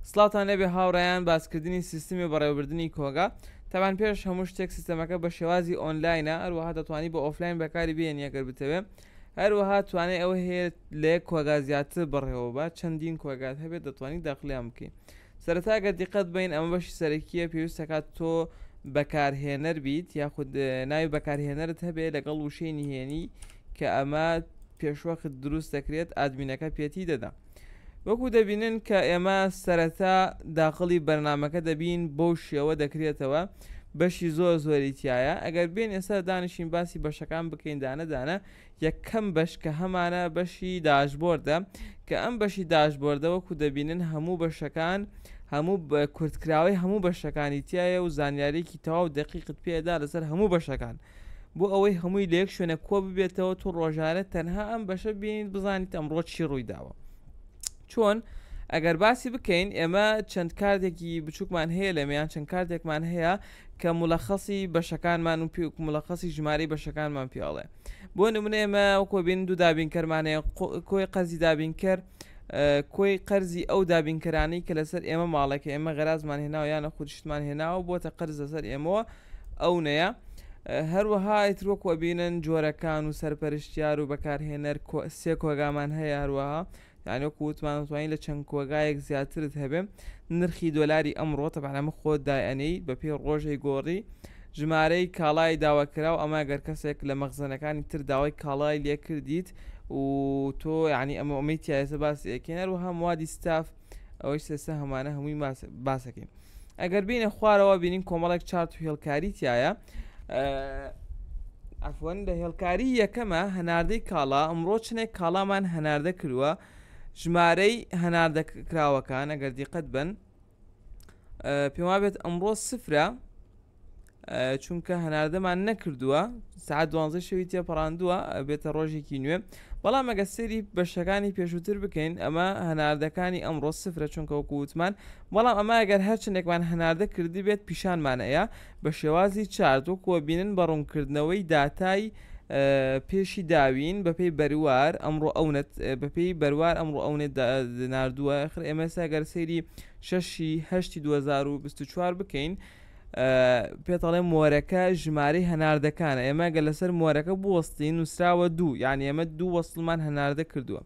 سڵاوتان لێبێ هاوڕێیان باسکردنی سیستمی بەڕێوەبردنی کۆگا تەبان پێش هەموو شتێک سیستەمەکە بە شێوازی ئۆنلاینە هەروەها دەتوانی بە ئۆفلاین بەکاری بێنی ئەگەر بتەوێ هەروەها توانێت ئەوە هەیە لە یەک کۆگا زیاتر بڕێەوە بە چەندین کۆگات هەبێت دەتوانانی داخلیان بکەین سەرتاگە دیقەت بین ئەمە بەشی سەرەکیە پێویستەکات تۆ بەکارهێنەر بیت یاخود ناوی بەکارهێنەرت هەبێت لەگەڵ وشەی نهێنی کە ئەمە پێشوەخت دروست دەکرێت ئادمینەکە پێتی دەدا وەکو دەبینن کە ئێمە سەرەتا داخڵی بەرنامەکە دەبین بەو شێوە دەکرێتەوە بەشی زۆر زۆری تایە ئەگەر بێن ئێستا دانیشین باسی بەشەکان بکەین دانەدانە یەکەم بەش کە هەمانە بەشی داشبۆردە کە ئەم بەشی داشبۆردە وەکو دەبینن هەموو بەشەکان هەموو کورتکراوەی هەموو بەشەکانی تایە و زانیارێکی تەواو دەقیقت پێدا لەسەر هەموو بەشەکان بۆ ئەوەی هەمووی لە یەک شوێنە کۆ ببێتەوە تو ڕۆژانە تەنها ئەم بەشە بینیت بزانیت ئەمڕۆ چی ڕووی داوە چۆن ئەگەر باسی بکەین ئێمە چەند کاردێکی بچووکمان هەیە لەمیان چەند کاردێکمان هەیە کە ملەخەسی بەشەکانمان و پێک ملەخەسی ژماری بەشەکانمان پیاڵێ بۆ نمونە ئێمە کۆبین دوو دابینکەرمانەیە کۆی قەزی دابینکەر کۆی قەرزی ئەو دابینکەرانی کە لەسەر ئێمە ماڵێک ئێمە غەرازمان هێناوە یانە خودشتمان هێناوە بۆتە قەرز لەسەر ئێمەوە ئەونەیە، هەروەها ئیتر وەکو ئەبینن جۆرەکان و سەرپەرشتیار و بەکارهێنەر سێ کۆگامان هەیە هەروەها یعنی وەکو وتمان وتوانین لە چەند کۆگایەک زیاترت هەبێ نرخی دۆلاری ئەمڕۆ تەبعا ئەمە خۆت دایەنەی بە پێی ڕۆژەی گۆڕی ژمارەی کاڵای داواکرا و ئەمە گەر کەسێک لە مەخزنەکانی تر داوای کاڵای لێ کردیت و تۆ یعنی ئەمە ئەمەی تایسە باس ئەکەین هەروەها موادی ستاف ئەوەی سێسە هەمانە هەمووی باسەکەین ئەگەر بینە خوارەوە بینین کۆمەڵێک چارت و هێڵکاری تایە ئەفۆن لە هێڵکاری یەکەمە هەناردەی کاڵا ئەمڕۆ چنێک کاڵامان هەناردە کردووە ژمارەی هەناردە کراوەکان ئەگەر دیقەت بن پێما بێت ئەمڕۆ سفرە چونکە هەناردەمان نەکردووە سعات دوانزە شەوی تێپەڕاندووە بێتە ڕۆژێکی نوێ بەڵام ئەگە سری بەشەکانی پێشووتر بکەین ئەمە هەناردەکانی ئەمڕۆ سفرە چونکە وکووتمان بەڵام ئەمە ئەگەر هەرچندێکمان هەناردە کردی بێت پیشانمانەیە بە شێوازی چارد وەکووە بینن بە ڕوونکردنەوەی داتای پێشی داوین بەپی بەروار ئەمڕۆ ئەونەت بەپی بەروار ئەمڕۆ ئەونێت نردووە خر ئێمەسا گەر سەیری شەشی هەشتی 2024 بکەین پێت ئەڵێ مۆرەکە ژمارەی هەناردەکانە ئێمە گە لەسەر مۆرەکە بوەستین نووسراوە دوو یان ئێمە دوو وەسلمان هەناردە کردووە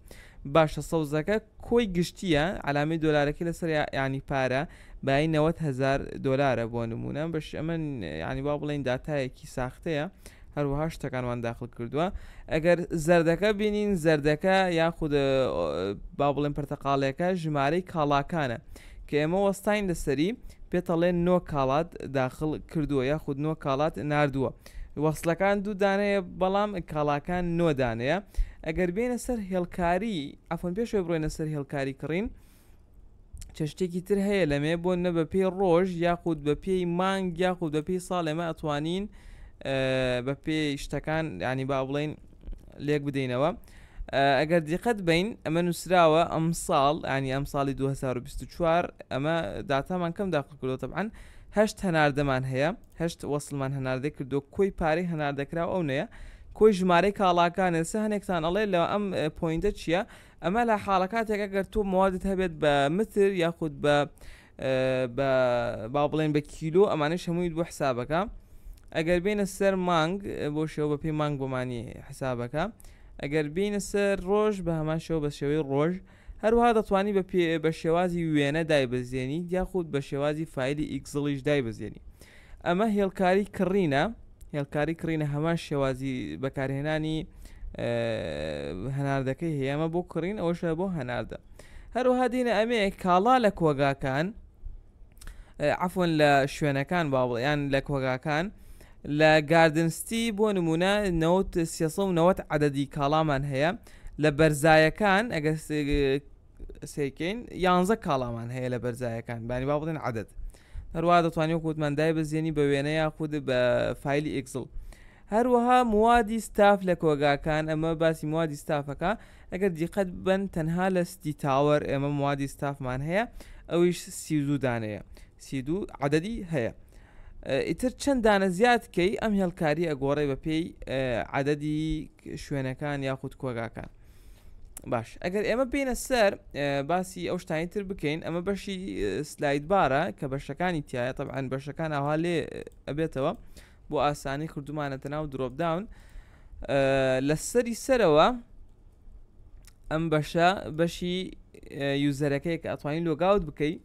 باشە سەوزەکە کۆی گشتیە علامی دۆلارەکە لەسەر ینی پارە بای 90هزار دلارە بۆ نمونە بەش ئەمە ینی با بڵین دااتایەکی ساختەیە هەروەها شتەکانمان داخل کردووە ئەگەر زەردەکە بینین زەردەکە یاخود با بڵێن پرتەقالەکە ژمارەی کاڵاکانە کە ئێمە وەستین لەسەری پێتەڵێن نۆ کاڵات داخل کردووە یاخود نۆ کاڵات نردووە وەصلەکان دوو دانەیە بەڵام کاڵاکان نۆدانەیە ئەگەر بێنە سەر هێڵکاری ئەفۆن پێشێ بڕێنە سەر هێڵکاری کڕین چشتێکی تر هەیە لەمێ بۆ نە بە پێی ڕۆژ یاخود بە پێی مانگ یاخود بە پێی ساڵ ئێمە ئەتوانین بە پێی شتەکان ینی با بڵین لێک بدەینەوە ئەگەر دیقەت بین ئەمە نووسراوە ئەم ساڵ ینی ئەم ساڵی 2024 ئەمە داتامان کەم داخل کردو تەبعاان هەشت هەناردەمان هەیە هەشت وەسلمان هەناردە کردو کۆی پارەی هەناردەکراو ئەو نەیە کۆی ژمارەی کاڵاکانێسە هەنێکتان ئەڵێ لە ئەم پوینتە چییە؟ ئەمە لە حاڵەکاتێک ئەگەر تۆ موادت هەبێت بە متر یاخود بە با بڵێن بە کیلو ئەمانەی شەموویت بۆ حسابەکە ئەگەر بینە سەر مانگ بۆ شێوە بە پێی مانگ بۆمانی حسابەکە ئەگەر بینە سەر ڕۆژ بە هەمان شێوە بە شێوەی ڕۆژ هەروها دەتوانی بە پێ بە شێوازی وێنە دایبزێنی یاخود بە شێوازی فیلی ئیکزڵیش دایبزێنی ئەمە هێڵکاری کڕینە هێڵکاری کڕینە هەمان شێوازی بەکارهێنانی هەناردەکەی هەیەمە بۆ کڕین ئەوشە بۆ هەناردە هەروها دینە ئەمێ کاڵا لە کۆگاکان عفۆن لە شوێنەکان باوڵیان لە کۆگاکان لە گاردنستی بۆ نمونە 90 عددی کاڵامان هەیە لە بەرزایەکان ئەگەر سیکەین یانزە کاڵامان هەیە لە بەرزایەکان بانی با بڵێن عادەت هەروە دەتوانانی وکوتمان دای بەزیێنی بە وێنە یاخود بە فیلی ئیکسڵ هەروەها موادی ستاف لە کۆگاکان ئەمە باسی موادی ستافەکە ئەگەر دیقەت بن تەنها لە ستی تاوەر ئێمە موادی ستافمان هەیە ئەویش سیزوو دانەیە سیدو عددی هەیە ئیتر چەند دانە زیاد کەی ئەم هێڵکاری ئەگۆڕێ بە پێی عددی شوێنەکان یاخود کۆگاکان باش ئەگەر ئێمە بینە سەر باسی ئەو شتانی تر بکەین ئەمە بەشی سلایت بارە کە بەشەکانی تایە طبعاان بەشەکان ئاوا لێ ئەبێتەوە بۆ ئاسانی کردومانەتە ناو درۆپداون لە سەری سەرەوە ئەم بەشە بەشی یوزەرەکەی کە ئەتوانین لۆگاوت بکەیت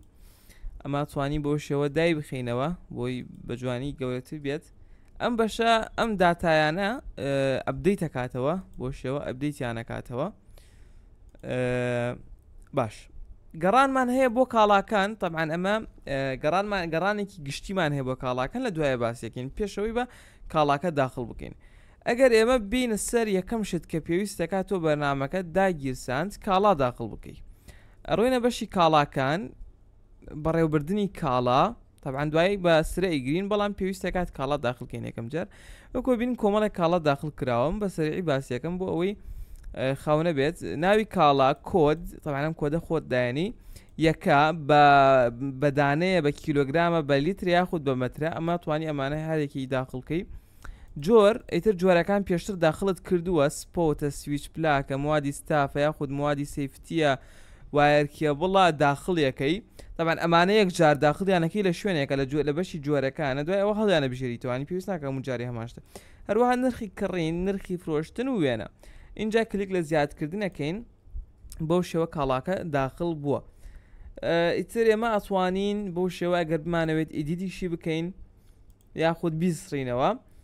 ئەمە توانی بۆ شێوە دای بخینەوە بۆی بە جوانی گەورەتر بێت ئەم بەشە ئەم داتایانە ئەبدەی تەکاتەوە بۆ شێوە ئەبدەیتیانەکاتەوە باش گەڕانمان هەیە بۆ کاڵاکان طبعاان ئەمە گەڕانمان گەڕانێکی گشتیمان هەیە بۆ کاڵاکان لە دوایە باسیەکەین پێشەوەی بە کاڵاکە داخل بکەین ئەگەر ئێمە بینە سەر یەکەم شت کە پێویست دەکات تۆ بەرنمەکە داگیرساند کاڵا داخل بکەیت ئەڕۆینە بەشی کاڵاکان بەڕێوبردنی کاڵا تابان دوایی بە سرە ئیگرین بەڵام پێویستە کات کاڵا داخلکەین یەکەم جار وەکۆ بین کۆمەڵێک کاڵا داخل کراوەم بە سەرعی باسیەکەم بۆ ئەوەی خاونە بێت ناوی کاڵا کۆد تەوانم کۆدە خۆت دایانی یەکە بە بەدانەیە بە کیلۆگرامە بە لیتر یاخود بە مەترە ئەمە توانی ئەمانە هەرێکی داخڵکەی جۆر ئیتر جۆرەکان پێشتر داخلت کردووە سپۆتە سویچ پلاکە موادی ستافە یاخود موادی سیفتە وایر کێبڵە داخڵیەکەی تابان ئەمانە یەک جار داخڵیانەکەی لە شوێنێکە لە جوێ لە بەشی جۆرەکانە دوای ئەوە هەڵیانە بژێریتوانی پێویست ناکەم و جاری هەماشتە هەروەها نرخی کڕین نرخی فرۆشتن و وێنە اینجا کلیک لە زیادکردنەکەین بەو شێوە کاڵاکە داخل بووە ئیتر ئێمە ئەتوانین بۆ شێوە ئەگەر بمانەوێت ئیدیدیشی بکەین یاخود بیسڕینەوە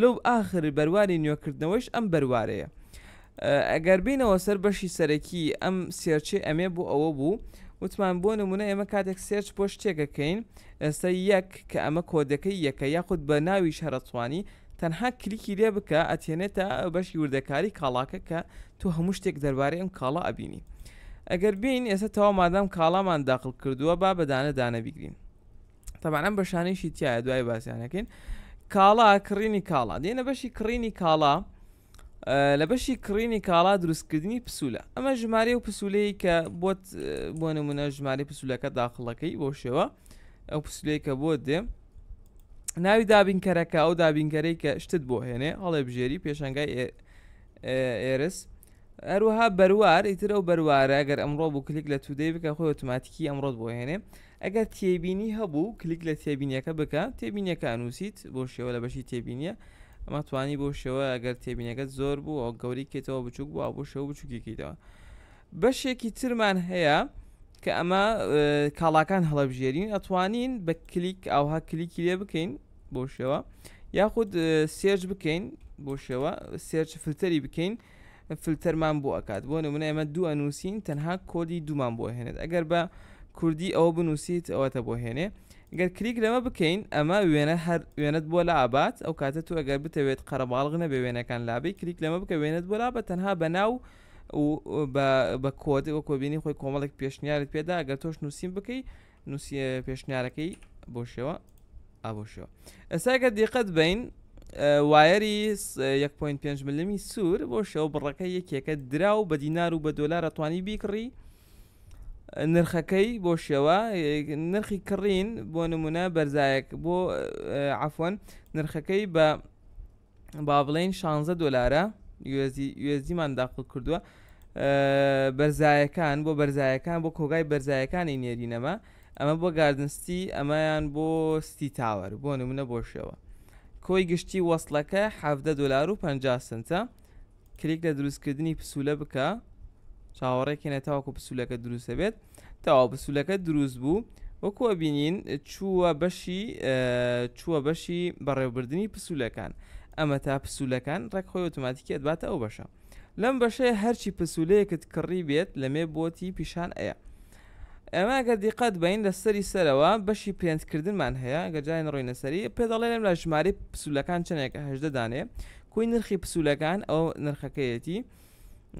لەو ئاخر بەرواری نوێکردنەوەیش ئەم بەروارەیە. ئەگەر بینەوە سەر بەشی سەرەکی ئەم سێرچەی ئەمێ بۆ ئەوە بوو وتمان بۆ نمونە ئێمە کاتێک سێرچ بۆ شتێک ئەکەین ئێستا یەک کە ئەمە کۆدەکەی یەکە یاخود بە ناویش هەر ئەتوانی تەنها کلیکی لێ بکە ئەتێنێتە بەشی وردەکاری کاڵاکە کە تۆ هەموو شتێک دەربارەی ئەم کاڵا ئەبینی ئەگەر بین ئێستا تەوا مادام کاڵامان داخل کردووە با بەدانە دانە بیگرین تەبانە بەشانەیشی تایە دوای باسیانەکەین کاڵا کڕینی کاڵا دێنە بەشی کڕینی کاڵا لە بەشی کڕینی کاڵا دروستکردنی پسولە ئەمە ژمارە و پسولەیە کە بۆت بۆ نمونە ژماری پسولەکە داخڵەکەی بۆ شێوە ئەو پسولەیە کە بۆ دێ ناوی دابینکەرەکە ئەو دابینکەرەی کە شتت بۆ هێنێ هەڵێ بژێری پێشنگای ئێرس هەروەها بەروار ئیتر ئەو بەروارە گەر ئەمڕۆ بوو کلیک لە تودەی بکە خۆی ئۆتوماتیکی ئەمڕۆت بۆ هێنێ ئەگەر تێبینی هەبوو کلیک لە تێبینیەکە بکە تێبینیەکە ئەنووسیت بۆ شێوە لە بەشی تێبینیە ئەمە توانی بۆ شێوە گەر تێبینەکەت زۆر بوو ئەو گەوری کێتەوە بچووک بوو بۆ شێوە بچووکیکەیتەوە بەشێکی ترمان هەیە کە ئەمە کاڵاکان هەڵەبژێرین ئەتوانین بە کلیک ئاوها کلیکی لێ بکەین بۆ شێوە یاخود سێرج بکەین بۆ شێوە سێرچ فلتەری بکەین فلتەرمان بۆ ئەکات بۆ نمونە ئێمە دوو ئەنووسین تەنها کۆدی دوومان بۆ هێنێت ئەگەر بە کوردی ئەوە بنووسیت ئەوەتە بۆ هێنێ گەر کلیک لەمە بکەین ئەمە وێنە هەر وێنەت بۆ لا ئابات ئەو کاتە تو ئەگەر بتەوێت قەرەباڵغ نەبێ وێنەکان لابی کلیک لەمە بکە وێنەت بۆ لا بە تەنها بە ناو بە کۆدەوە کۆبینی خۆی کۆمەڵێک پێشنیارت پێدا گەر تۆش نووسین بکەی نووسیە پێشنیارەکەی بۆ شێوە ئابۆ شێوە ئەساگە دیقەت بین وایەری 1.5 ملمی سوور بۆ شێوە بڕەکە یەکێکە درا و بە دینار و بە دۆلارە توانی بیکڕی نرخەکەی بۆ شێوە نرخی کڕین بۆ نمونە بەرزایەک بۆ عفۆن نرخەکەی بە با بڵێین شانزە دۆلارە یۆزیمان داخڵ کردووە بەرزایەکان بۆ بەرزایەکان بۆ کۆگای بەرزایەکانی نێرینەمە ئەمە بۆ گاردنستی ئەمەیان بۆ ستی تاوەر بۆ نمونە بۆشەوە کۆی گشتی وەصلەکە ح دلار و پ سنتە کلیک لە دروستکردنی پسولە بکە چاوەڕێکێنە تاوەکو پسولەکە دروست دەبێت تاوا پسولەکە دروست بوو وەکو ئەبینین چووە بەشی چووە بەشی بەڕێوبردننی پسولەکان ئەمە تا پسولەکان ڕێک خۆی ئۆتوماتیکی ئەدباتە ئەو بەشە لەم بەشەیە هەرچی پسولەیەکت کڕی بێت لەمێ بۆتی پیشان ئەیە ئێمە ئەگەر دیقەت بەین لە سەری سەرەوە بەشی پرێنت کردنمان هەیە گە جای نڕۆینە سەری پێ دەڵێ لەم لە ژماری پسولەکان چنێکە هەژدە دانێ کوی نرخی پسولەکان ئەو نرخەکەیەتی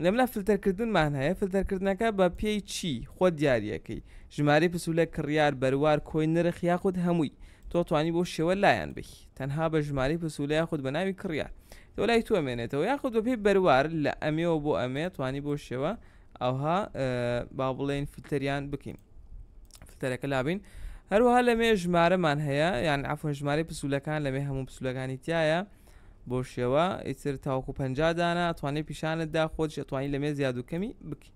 لەملا فلتەرکردنمان هەیە فلتەرکردنەکە بە پێی چی خۆ دیارەکەی ژماری پسولە کڕیار بەروار کۆی نرخ یاخود هەمووی تۆ توانی بۆ شێوە لایەن بی تەنها بە ژماری پسولە یاخود بە ناوی کڕیار تۆ لای توەمێنێتەوە یاخود بەپی بەروار لە ئەمێەوە بۆ ئەمێ توانی بۆ شێوە ئەوها با بڵێن فلتەریان بکەین فلتەرەکە لابین هەروها لەمێ ژمارەمان هەیە یان ئەفۆن ژمارە پسولەکان لەمێ هەموو پسولەکانی تایە بۆ شێوە ئیتر تاوکو پ دانا ئەتوانێت پیشانت دا خۆش ئەتوانی لەمێ زیاد و کەمی بکە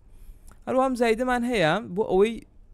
هەروام زایدەمان هەیە بۆ ئەوەی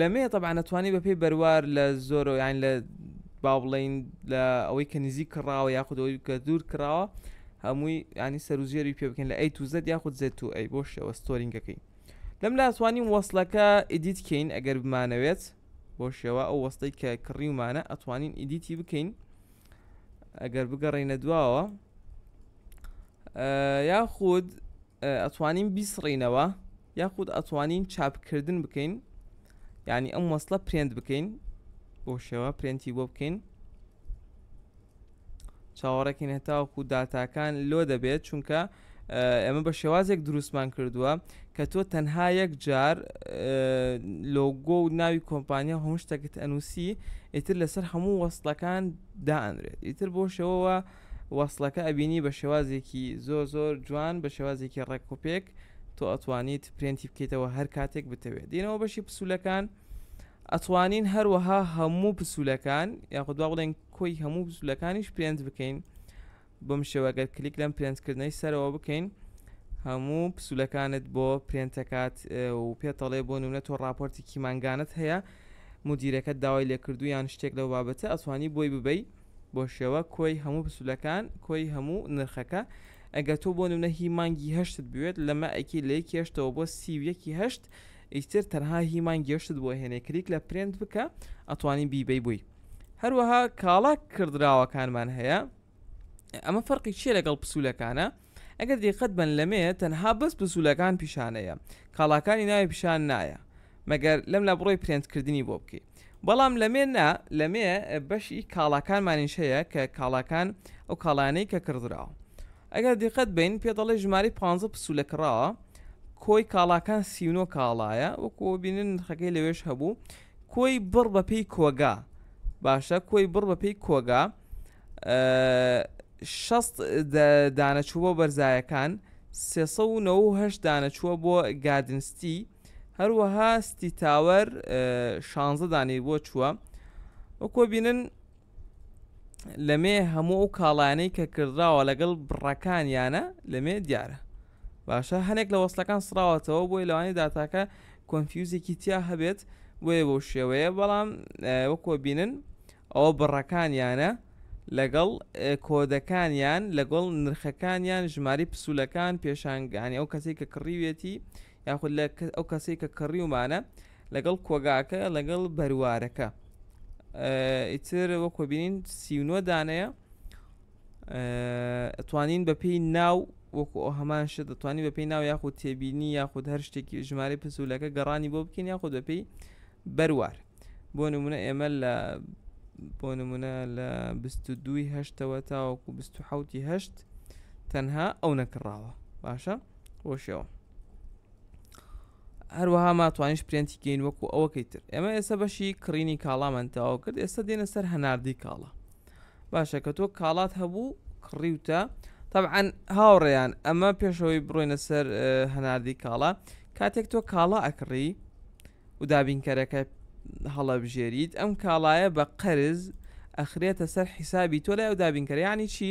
لەمێ طبعا ئەتوانی بەپی بەروار لە زۆرۆیان لە با بڵین لە ئەوەی کە نزیک کڕاوە یاخودەوەی کە دوور کراوە هەمووی ینی سەروزێری پێ بکەن لە ئەی توزت یاخود زێت تو ئەی بۆ شێوە ستۆرینگەکەی لەم لاسوانین وەصلەکە ئیدیت کەین ئەگەر بمانەوێت بۆ شێوە ئەو وەستەی کە کڕیومانە ئەتوانین ئیدیتی بکەین ئەگەر بگەڕینە دواوە یاخود ئەتوانین بیسڕینەوە یاخود ئەتوانین چاپکردن بکەین یعنی ئەم وەصلە پرێنت بکەین بۆ شێوە پرێنتی بۆ بکەین چاوەڕێکین هەتاوەکو داتاکان لۆ دەبێت چونکە ئێمە بە شێوازێک دروستمان کردووە کە تۆ تەنها یەک جار لۆگۆ و ناوی کۆمپانیا هەموو شتەکەت ئەنووسی ئیتر لەسەر هەموو وەستەکان دائەنرێت ئیتر بۆ شەوەوە وەصلەکە ئەبینی بە شێوازێکی زۆر زۆر جوان بە شێوازێکی ڕێکۆپێک تۆ ئەتوانیت پرێنتی بکەیتەوە هەر کاتێک بتەوێت دینەوە بەشی پسولەکان ئەتوانین هەروەها هەموو پسولەکان یاخود بڵێن کۆی هەموو پسولەکانیش پرێنت بکەین بەم شێوە گەر کلیک لەم پرێنت کردنەی سەرەوە بکەین هەموو پسولەکانت بۆ پرێنتەکات و پێتەڵێ بۆ نمونە تۆ راپۆرتی کیمانگانت هەیە مدیرەکە داوای لێکردو یان شتێک لەو بابەتە ئەتوانی بۆی ببەی بۆ شێوە کۆی هەموو پسولەکان کۆی هەموو نرخەکە ئەگە تۆ بۆ نمونە هی مانگی هەشتت بوێت لەمە ئەکی لە یەکی هەشتەوە بۆ سی و یەکی هەشت ئیتر تەنها هی مانگی هەشتت بۆ هێنێ کلیک لە پرێنت بکە ئەتوانی بیبەی بووی هەروەها کاڵا کردراوەکانمان هەیە ئەمە فەرقی چیە لەگەڵ پسوولەکانە ئەگەر دیقەت بن لەمێ تەنها بەس پسوولەکان پیشانەیە کاڵاکانی ناوی پیشان نایە مەگەر لەم لە بڕۆی پرێنتکردنی بۆ بکەی بەڵام لەمێ نا لەمێ بەشی کاڵاکانمانیش هەیە کە کاڵاکان ئەو کاڵانەی کە کڕدراوە ئەگەر دیقەت بین پێ دەڵێ ژماری 15 پسوولە کڕاوە کۆی کاڵاکان سیونۆ کاڵایە وەکو بینن خەکەی لەوێش هەبوو کۆی بڕ بە پێی کۆگا باشە کۆی بڕ بە پێی کۆگا شەست دانەچوو بۆ بەرزایەکان سێه دانەچووە بۆ گادنستی هەروەها ستی تاوەر شانزە دانی بۆ چووە وەکۆ بینن لەمێ هەموو ئەو کاڵانەی کە کردراوە لەگەڵ بڕەکانیانە لەمێ دیارە باشە هەنێک لە وەسلەکان سراوەتەوە بۆی لەوانی داتاکە کۆنفیوزێکی تیا هەبێت بۆیە بۆ شێوەیە بەڵام وەکۆ بینن ئەوە بڕەکانیانە لەگەڵ کۆدەکانیان لەگەڵ نرخەکانیان ژماری پسولەکان پێشانگانی ئەو کەسی کە کڕیوێتی یاخود لە ئەو کەسەی کە کڕیومانە لەگەڵ کۆگاکە لەگەڵ بەروارەکە ئیتر وەکۆ بینین سیونۆ دانەیە توانین بە پێی ناو وەکو ئەو هەمان شت دەتوانانی بە پێی ناو یاخود تێبینی یاخود هەر شتێکی ژمارە پسولەکە گەڕانی بۆ بکەین یاخود بە پێی بەروار بۆ نمونە ئێمە لە بۆ نمونە لە دوی هەشتەوە تاوەکو هەشت تەنها ئەو نەکڕاوە باشە وەشەوە هەروەها ما توانیش پرێنتی گەین وەکو ئەوەکەی تر ئێمە ئێستا بەشی کڕینی کاڵامان تەواو کرد ئێستا دێنە سەر هەناردی کاڵا باشە کە تۆ کاڵات هەبوو کڕیوتە طبعا هاوڕێیان ئەمە پێشەوەی بڕۆینە سەر هەناردی کاڵا کاتێک تۆ کاڵا ئەکڕی و دابینکەرەکە هەڵەبژێریت ئەم کاڵایە بە قەرز ئەخرێتە سەر حیسابی تۆ لای و دابینکەر یعنی چی؟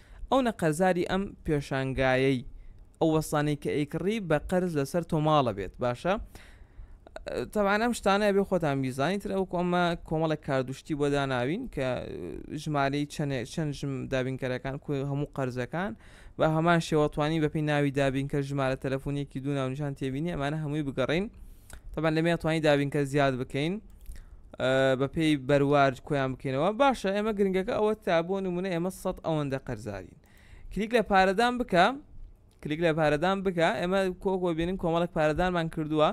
ئەو نە قەرزاری ئەم پێشانگایەی ئەو وەستانەی کە ئەیکڕی بە قەرز لەسەر تۆ ماڵە بێت باشە تەوان ئەم شتانە بێ خۆتان میزانی تر ئەو کۆمە کۆمەڵێک کاردشتی بۆ داناوین کە ژمارەی چەند چەند ژم دابینکەرەکان کو هەموو قەرزەکان بە هەمان شێوەتوانی بەپی ناوی دابینکە ژمارە تەلەفۆنیەکی دوو ناونیشان تێبینی ئەمانە هەمووی بگەڕین تەبەن لەمێ توانی دابینکە زیاد بکەین بە پێی بەروارد کۆیان بکەینەوە باشە ئێمە گرنگەکە ئەوە تا بۆ نمونە ئێمە سە ئەوەندە قەرزارین کلیک لە پارەدان بکە کلیک لە پارەدان بکە ئێمە کۆکۆ بینین کۆمەڵک پارەدانمان کردووە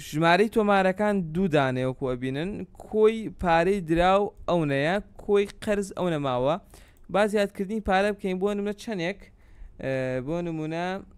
ژمارەی تۆمارەکان دوودانەیەکو ئەبینن کۆی پارەی دراو ئەو نەیە کۆی قەرز ئەو نەماوە با زیادکردنی پارە بکەین بۆ نمە چەندێک بۆ نمونە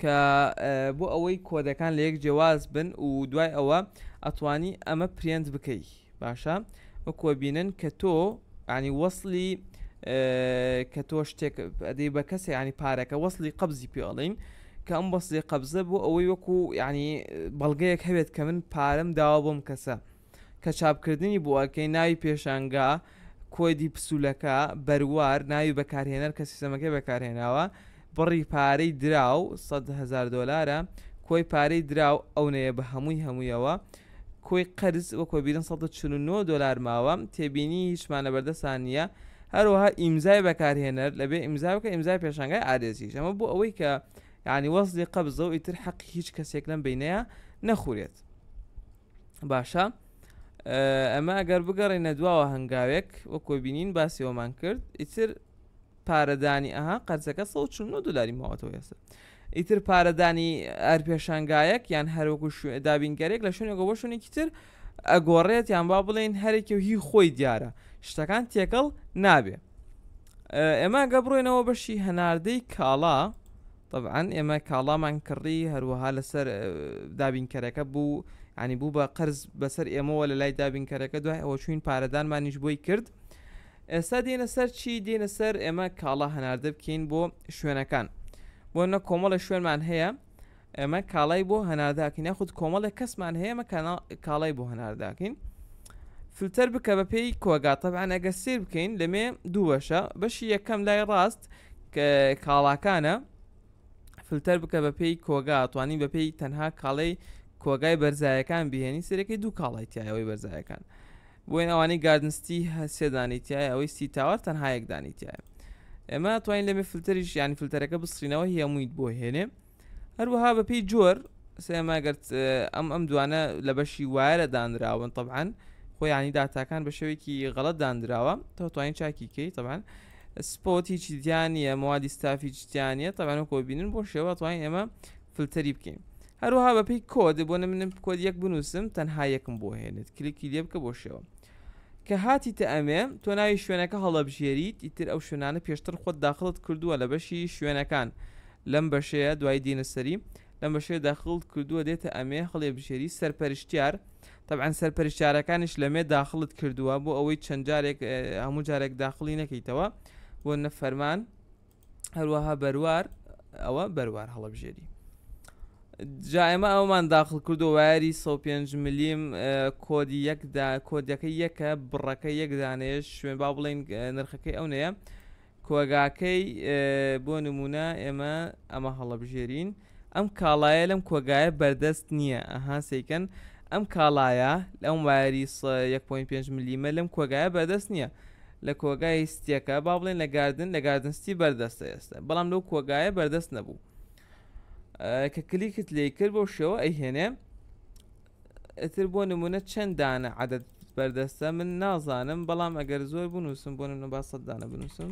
کە بۆ ئەوەی کۆدەکان لە یەک جیاواز بن و دوای ئەوە ئەتوانی ئەمە پرێنت بکەی باشە وەکوە بینن کە تۆ ینی وەصلی کە تۆ شتێک ئەدەی بە کەسی ینی پارەکە وەصلی قبزی پێڵین کە ئەم بەصلی قبزە بۆ ئەوەی وەکو ینی بەڵگەیەک هەوێت کە من پارەم داوا بۆم کەسە. کە چاپکردنی بووەکەی ناوی پێشانگا، کۆدی پسولەکە، بەروار، ناوی بەکارهێنەر کە سیستەمەکەی بەکارهێناوە، بڕی پارەی دراو، سەد هەزار دۆلارە، کۆی پارەی دراو، ئەونەیە بە هەمووی هەموویەوە، کۆی قەرز، وەک وەبیرن سەد و چل و نۆ دۆلار ماوە، تێبینی، هیچمان لەبەردەستان نییە، هەروەها ئیمزای بەکارهێنەر، لەبێ ئیمزا بکە، ئیمزای پێشانگای ئادێسیش، ئەمە بۆ ئەوەی کە یانی وەسلی قەبزە و ئیتر حەقی هیچ کەسێک لەم بەینەیە نەخورێت. باشە ئەمە ئەگەر بگەڕێنە دواوە هەنگاوێک وە کۆبینین باسیەوەمان کرد ئیتر پارەدانی ئەها قەرزەکە 1940 دلاری ماوەتەوە ێستا ئیتر پارەدانی ئەر پێشانگایەک یان هەروەکو دابینگەرێک لە شوێنێکەوە بۆ شوێنێکی تر ئەگۆڕێت یان با بڵێن هەرێکی و هی خۆی دیارە شتەکان تێکەڵ نابێ ئێمە گە بڕێنەوە بەشی هەناردەی کاڵا تەبعەن ئێمە کاڵامان کڕی هەروەها لەسەر دابینکەرەکە بوو ینی بوو بە قەرز بەسەر ئێمەوە لە لای دابینکەرەکە دوای ئەوە چوین پارەدانمانیش بۆی کرد ئێستا دێنە سەر چی دێنە سەر ئێمە کاڵا هەناردە بکەین بۆ شوێنەکان بۆ نە کۆمەڵە شوێنمان هەیە ئێمە کاڵای بۆ هەنارداکەین یاخود کۆمەڵێک کەسمان هەیە مە کاڵای بۆ هەنارداکەین فلتەر بکە بە پێی کۆگاتەبان ئەگە سیر بکەین لەمێ دووەشە بەشی یەکەم لای ڕاست کاڵاکانە فلتەر بکە بە پێی کۆگا توانی بە پێی تەنها کاڵی کۆگای بەرزایەکان بهێنی سەرەکەی دوو کاڵای تایەوەی بەرزایەکان بۆین ئەوانەی گاردنستی هەسێدانی تایە ئەوەی سی تاوار تەنها یەکدانی تایە ئێمە توانین لەمێ فلتەریش یانی فلتەرەکە بسرینەوە هەموویت بۆ هێنێ هەروەها بەپێی جۆر سێماگەرت ئەم ئەم دوانە لە بەشی وایرە دانراون طبعاان خۆیانی داتاکان بە شێوێکی غەڵت دانراوە تۆتوانین چاکی کەی طبعاان سپۆت هیچی دیانە موادی ستافی جیانە تەوانە کۆ بینن بۆ شێوە توانین ئێمە فلتەری بکەین هەروها بەپی کۆد بۆ منم کۆد یەک بنووسم تەنها یەکم بۆ هێنێت کلیکی لێ بکە بۆ شێوە کە هاتیتە ئەمێ تۆ ناوی شوێنەکە هەڵەبژێریت ئیتر ئەو شوێنانە پێشتر خۆت داخڵت کردووە لە بەشی شوێنەکان لەم بەشەیە دوای دێنە سەری لەم بەشەیە داخڵت کردووە دێتە ئەمێ هەڵێ بژێری سەرپەرشتیار تەبعەن سەرپەرشتارەکانیش لەمێ داخڵت کردووە بۆ ئەوەی چەند جارێک هەموو جارێک داخڵی نەکەیتەوە بۆ نەفەرمان هەروەها بەروار ئەوە بەروار هەڵبژێری جا ئێمە ئەومان داخل کردو وایری 105 ملیم کۆدی یەکدا کۆدیەکە یەکە بڕەکە یەکدانێش شوێن با بڵین نرخەکەی ئەو نەیە کۆگاکەی بۆ نمونە ئێمە ئەمە هەڵبژێرین ئەم کاڵایە لەم کۆگایە بەردەست نییە ئەها سەیکەن ئەم کاڵایە لەم وایەری س یەک پۆین پێنج ملیمە لەم کۆگایە بەردەست نییە لە کۆگای ستیەکە با بڵێن لە گاردن لە گاردنستی بەردەستە ئێستا بەڵام لەو کۆگایە بەردەست نەبوو کە کلیکت لی کرد بۆ شێوە ئەیهێنێ ئەتر بۆ نمونە چەندانە عادەت بەردەستە من نازانم بەڵام ئەگەر زۆر بنووسم بۆ نمە با سەددانە بنووسم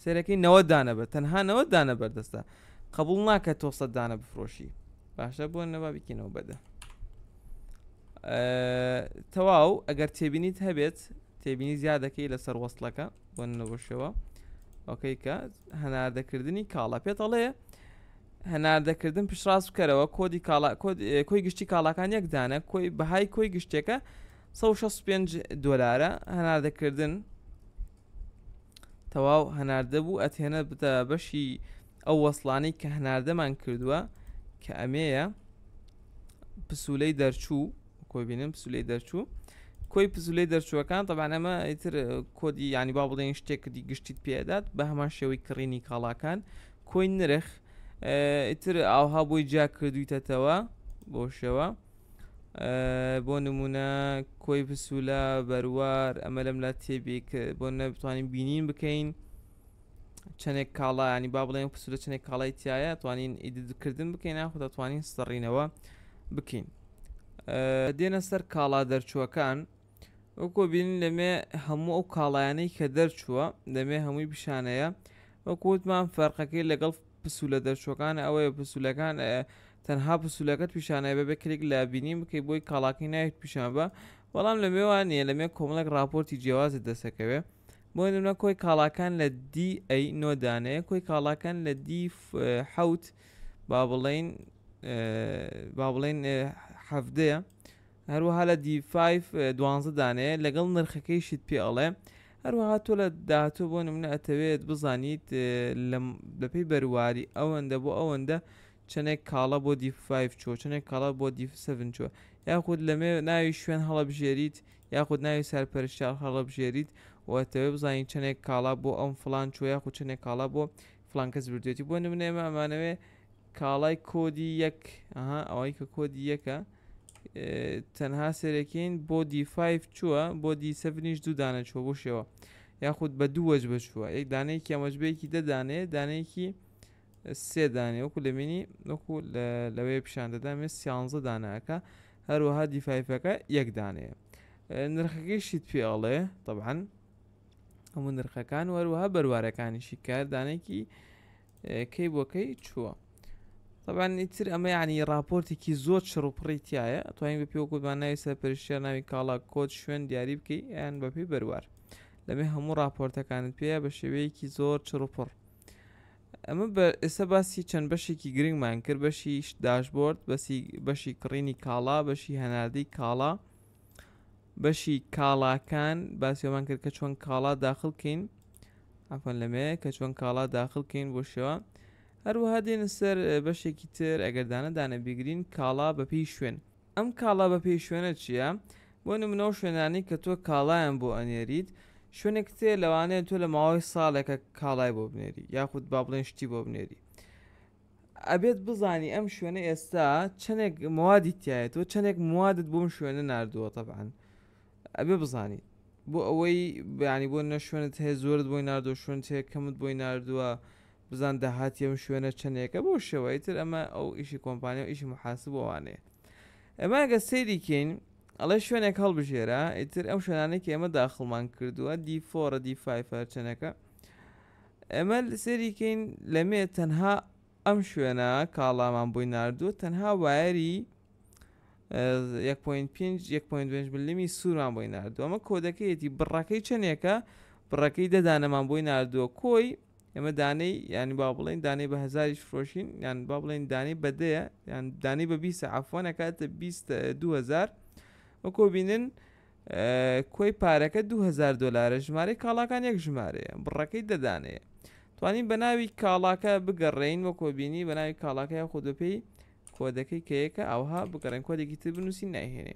سێرەکەی نەوە دانە بە تەنها نەوە دانە بەردەستە قبول ناکە تۆ سە دانە بفرۆشی باشە بۆ نەبا بکەینەوە بەدە تەواو ئەگەر تێبینیت هەبێت تێبینی زیادەکەی لەسەر وەستلەکە بۆ نەبەشەوە ئۆکەی کە هەناردەکردنی کاڵە پێتەڵێ هەناردەکردن پشتڕاست بکەرەوە کۆدی کاڵا کۆی گشتی کاڵاکان یەکدانە کۆی بەهای کۆی گشتێکە 1665 دۆلارە هەناردەکردن تەواو هەناردە بوو ئەتهێنە بتە بەشی ئەو وەسڵانەی کە هەناردەمان کردووە کە ئەمەیە پسولەی دەرچوو کۆبینن پسولەی دەرچوو کۆی پزولەی دەرچووەکان طبعا ئەمە ئیتر کۆدی ینی با بڵێن شتێکدی گشتیت پێدات بە هەمان شێوەی کڕینی کاڵاکان کۆی نرخ ئیتر ئاوها بۆی جیا کردویتەتەوە بۆ شێوە بۆ نمونە کۆی پسوولە بەروار ئەمە لەم لا تێبی بۆ نەبتوانین بینین بکەین چەندێک کاڵایانی با بڵێن پسوولە چنێک کاڵای تایە توانین ئیدکردن بکەین ناخۆ دەتوانین سڕینەوە بکەین دێنە سەر کاڵا دەرچووەکان وەکو بینین لەمێ هەموو ئەو کاڵایانەی کە دەرچووە دەمێ هەمووی پیشانەیە وەکووتمان فەرقەکەی لەگەڵ پسولە دەرچوەکان ئەوەیە پسولەکان تەنها پسولەکەت پیشانەیە بەبێ کلیک لە بینین بکەی بۆی کاڵاکەی ناویت پیشان بە بەڵام لە مێوانە لە مێ کۆمەڵێک راپۆرتی جیاوازت دەسەکەوێ بۆ نمونە کۆی کاڵاکان لە دی ئەی نۆدانەیە کۆی کاڵاکان لە دی حوت با بڵین با بڵین حەفدەیە هەروەها لە دیفایف دوانزە دانێ لەگەڵ نرخەکەیشت پێ ئەڵێ هەروەها تۆ لە داهاتوو بۆ نمونە ئەتەوێت بزانیت بەپی بەرواری ئەوەندە بۆ ئەوەندە چەندێک کاڵە بۆ دیفایف چۆ چەندێک کاڵە بۆ دیفسەن چۆ یاخود لەمێ ناوی شوێن هەڵەبژێریت یاخود ناوی سەرپەرشتار هەڵەبژێریت وەتەوێ بزانین چەندێک کاڵا بۆ ئەم فلان چۆ یاخود چەندێک کاڵا بۆ فلانکەس بردێتی بۆ نمونێمە ئەمانەوێ کاڵای کۆدی یەک ئەوەی کە کۆدی یەکە تەنها سێرەکەین بۆ دیفایف چووە بۆ دی سەفنیش دوو دانە چوە بۆ شێوە یاخود بە دوو وەج بچووە یەک دانەیەکی ئەمەجبەیەکی دەدانێ دانەیەکی سێ دانێ وەکو لە مینی وەکو لەوەیە پیشان دەدامێ سیانزە داناکە هەروەها دیفایفەکە یەک دانەیە نرخەکەی شیت پێ ئەڵێ طبعاان هەموو نرخەکان وەروەها بەروارەکانیشی کاردانێکی کەی بۆ کەی چووە طبعاان ئیتر ئەمە ینی راپۆرتێکی زۆر چڕوپڕی تایە توانین بە پێوە گوتمان ناوی سەر پرشتە ناوی کاڵا کۆچ شوێن دیاری بکەی یان بەپی بەروار لەمێ هەموو راپۆرتەکانت پێە بە شێوەیەکی زۆر چڕوپڕ ئەمە بە ئێستا باسی چەند بەشێکی گرنگمان کرد بەشی داشبۆرد بەسی بەشی کڕینی کاڵا بەشی هەناردەی کاڵا بەشی کاڵاکان باسیۆمان کرد کە چۆن کاڵا داخل کەین ئەفۆن لەمێ کە چۆن کاڵا داخل کەین بۆ شێوە هەروەها دێن سەر بەشێکی تر ئەگەردانە دانە بیگرین کاڵا بەپی شوێن ئەم کاڵا بەپی شوێنە چییە؟ بۆ نمونەو شوێنانی کە تۆ کاڵایان بۆ ئەنێریت شوێنێک تێ لەوانەیە تۆ لە ماوەی ساڵێکە کاڵای بۆ بنێری یاخود با بڵێن شتی بۆ بنێری ئەبێت بزانی ئەم شوێنە ئێستا چەندێک موادی تایە تۆ چەندێک موادت بۆم شوێنە نردووە تەبان ئەبێ بزانی بۆ ئەوەی بەیانی بۆ نە شوێنت هەیە زۆرت بۆی نردۆ شوێن چێ کەمت بۆی نردووە بزان داهاتی ئەم شوێنە چەندێکە بۆ شێوەی تر ئەمە ئەو ئیشی کۆمپانیا و ئیشی محاسب بۆوانەیە ئەماگە سەیریکەین ئەڵێ شوێنێک هەڵبژێرە ئیتر ئەم شوێنانێکی ئێمە داخڵمان کردووە دیفۆرە دیفای فەرچەنەکە ئێمە سەیری کەین لە مێ تەنها ئەم شوێنە کاڵامان بۆی نردووە تەنها وایەری 1.5 ملمی سوورمان بۆی نردووە ئەمە کۆدەکەیەتی بڕەکەی چەندێکە بڕەکەی دەدانەمان بۆی نردووە کۆی ئێمە دانەی ینی با بڵین دانەی بە هزاریش فرۆشین یان با بڵین دانەی بەدەیە یان دانەی بە بیسە عفۆنەکاتە 20 2000 وەکۆ بینن کۆی پارەکە دوو هەزار دۆلارە ژمارەی کاڵاکان یەک ژمارەیە بڕەکەی دە دانەیە توانین بە ناوی کاڵاکە بگەڕێین وە کۆبینی بە ناوی کاڵاکە یاخود بە پێی کۆدەکەی کەیەکە ئەوها بگەڕێن کۆدێکی تر بنووسین نایهێنێ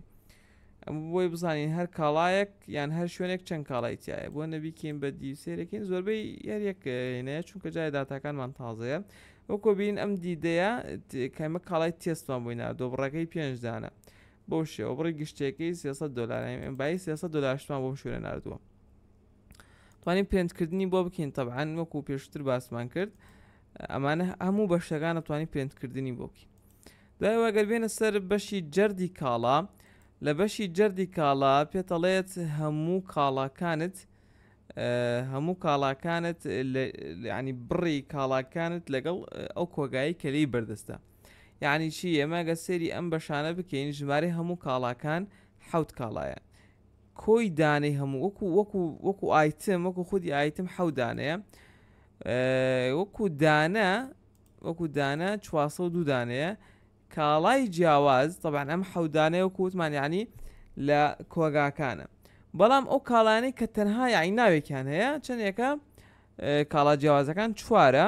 ئەم بۆی بزانین هەر کاڵایەک یان هەر شوێنێک چەند کاڵای تایە بۆ نەبیکەین بە دی سێرەکەین زۆربەی یاریەکەینەیە چونکە جای داتاکانمان تازەیە وە کۆبین ئەم دیدەیە کەمە کاڵای تێستمان بۆی نردۆ بڕەکەی پێنجدانە بەو شێوە بڕی گشتیەکەی سێ سەد دۆلارە ئێمە بایی سێ سەد دۆلارشمان بۆم شوێنە ناردووە توانین پرێنتکردنی بۆ بکەین تەبعاان وەکو پێشتر باسمان کرد ئەمانە هەموو بەشەکانە توانی پرێنتکردنی بۆ بکەین دوای واگەر بێنە سەر بەشی جەردی کاڵا لە بەشی جەردی کاڵا پێتەڵێت هەموو کاڵاکانت هەموو کاڵاکانت ینی بڕی کاڵاکانت لەگەڵ ئەو کۆگایی کەلەی بەردەستە یعنی چی ئێمە گە سێری ئەم بەشانە بکەین ژمارە هەموو کاڵاکان حوت کاڵایە کۆی دانەی هەموو وەکو وەکو وەکو ئایتم وەکو خودی ئایتم حەودانەیە وەکو دانە وەکو دانە 400 دوو دانەیە کاڵای جیاواز طبعاان ئەم حەودانەیە وەکو وتمان یعنی لە کۆگاکانە بەڵام ئەو کاڵانی کە تەنها یاعی ناوێکیان هەیە چەندێکە کاڵا جیاوازەکان چوارە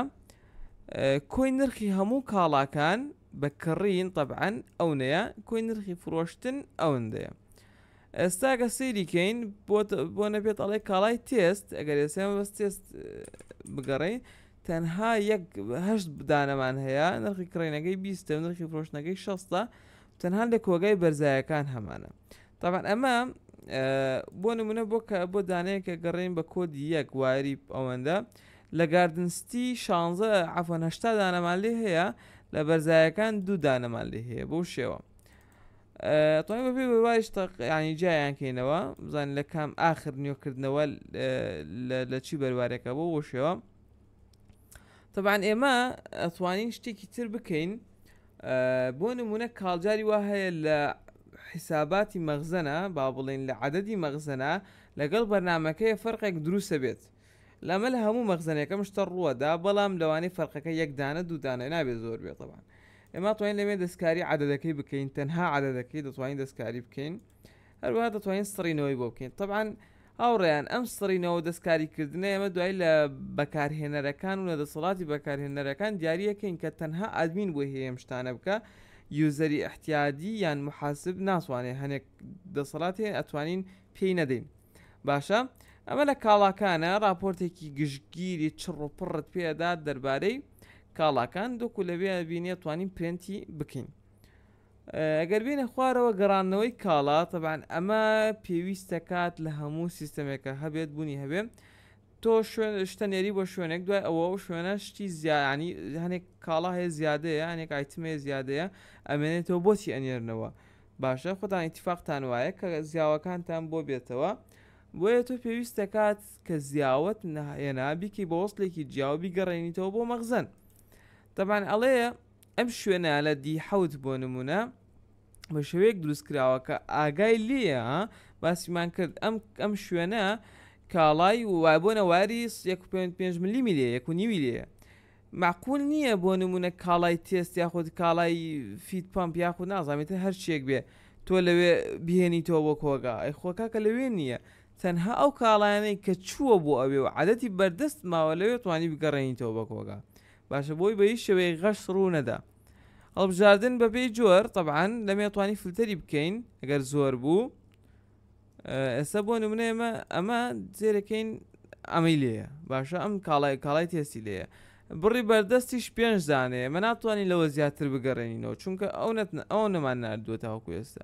کۆی نرخی هەموو کاڵاکان بە کڕین طبعاان ئەونەیە کۆی نرخی فرۆشتن ئەوەندەیە ئێستاگە سەیریکەین بۆ نەبێت ئەڵێ کاڵای تێست ئەگەر ئێسێن بەس تێست بگەڕین تەنها یەکهشت بدانەمان هەیە نرخی کڕینەکەی بیستە نرخی فرۆشتنەکەی شەستە تەنها لە کۆگای بەرزایەکان هەمانە تابان ئەمە بۆ نمونە بۆ کە بۆ دانەیەکە گەڕین بە کۆدی یەک واری ئەوەندە لە گاردنستی شانزە عفۆن هشتا دانەمان لێ هەیە لە بەرزایەکان دوو دانەمان لێ هەیە بەو شێوە تۆی بەبێ بەواریش تەقیانی جیان کەینەوە بزان لە کام ئاخر نیۆکردنەوە لە چی بەروارێکە بۆ بۆ شێوە تەبان ئێمە ئەتوانین شتێکی تر بکەین بۆ نمونە کاڵجاری وا هەیە لە حیساباتی مەغزەنە با بڵێن لە عادەدی مەغزەنە لەگەڵ بەرنمەکەی فەرقێک دروستە بێت لەمە لە هەموو مەغزنەکەم شتە ڕووەدا بەڵام لەوانی فەرقەکە یەکدانە دوودانە نابێت زۆر بێتەوان ئێمە توانین لەوێ دەستکاری عادەکەی بکەین تەنها عادەکەی دەتوانین دەستکاری بکەین هەروەها دەتوانین سڕینەوەی بۆ بکەین طبعاان هاوڕێیان ئەم سڕینەوە دەستکاریکردنە ئێمە دوای لە بەکارهێنەرەکان و لە دەسەڵاتی بەکارهێنەرەکان دیارریەکەین کە تەنها ئادمین بۆی هەیەم شتانە بکە یوزەری احتیادی یان محاسب ناتوانێ هەنێک دەسەڵات هەیە ئەتوانین پێی نەدەین باشە ئەمە لە کاڵاکانە راپۆرتێکی گشتگیری چڕ و پڕت پێدا دەربارەی کاڵاکان دۆکو لەوێ بینێ توانین پرنتی بکەین ئەگەر بێینە خوارەوە گەڕاندنەوەی کاڵا تەبان ئەمە پێویست دەکات لە هەموو سیستەمێکە هەبێت بوونی هەبێ تۆ شوێن شتە نێری بۆ شوێنێک دوای ئەوە و شوێنە شتی زیانی هەنێک کاڵا هەیە زیادەیە هەنێک ئایتمێ زیادەیە ئەمێنێتەوە بۆچی ئەنێرنەوە باشە خۆتان ئیتفاقتان وایە کە زیاوەکانتان بۆ بێتەوە بۆیە تۆ پێویست دەکات کە زیاوت نهێنا بیکی بە وەستێکی جیاوە بیگەڕێنیتەوە بۆ مەغزن تەبان ئەڵەیە ئەم شوێنە لە دی حەوت بۆ نموونە بە شێوەیەک دروست کراوە کە ئاگای لێیە باسیمان کرد ئەم ئەم شوێنە کاڵای وای بۆ نەواری 1.5 ملی میلێ یەک و نیوی لێە معقول نییە بۆ نمونە کاڵای تێست یاخود کاڵای فیت پمپ یاخو نازانێت هەرچێک بێ تۆ لەوێ بهێنیتەوە بۆ کۆگا ئەی خۆکاکە لەوێ نییە تەنها ئەو کاڵانەی کە چووە بۆ ئەوێ و عادەتی بەردەست ماوە لەوێ توانی بگەڕێنیتەوە بە کۆگا باشە بۆی بە هیچ شێوەیەک غەش ڕوو نەدا. هەڵبژاردن بە پێی جۆر تەبعەن لەمێ ئەتوانی فلتەری بکەین ئەگەر زۆر بوو ئێستا بۆ نمونە ئێمە ئەمە جێرەکەین ئەمەی لێە باشە ئەم کاڵای کاڵای تێستی لێە بڕی بەردەستیش پێنج دانێ مە ناتوانین لەوە زیاتر بگەڕێنینەوە چونکە ئەو نەتن ئەو نەمان نردووە تاوەکو ئێستا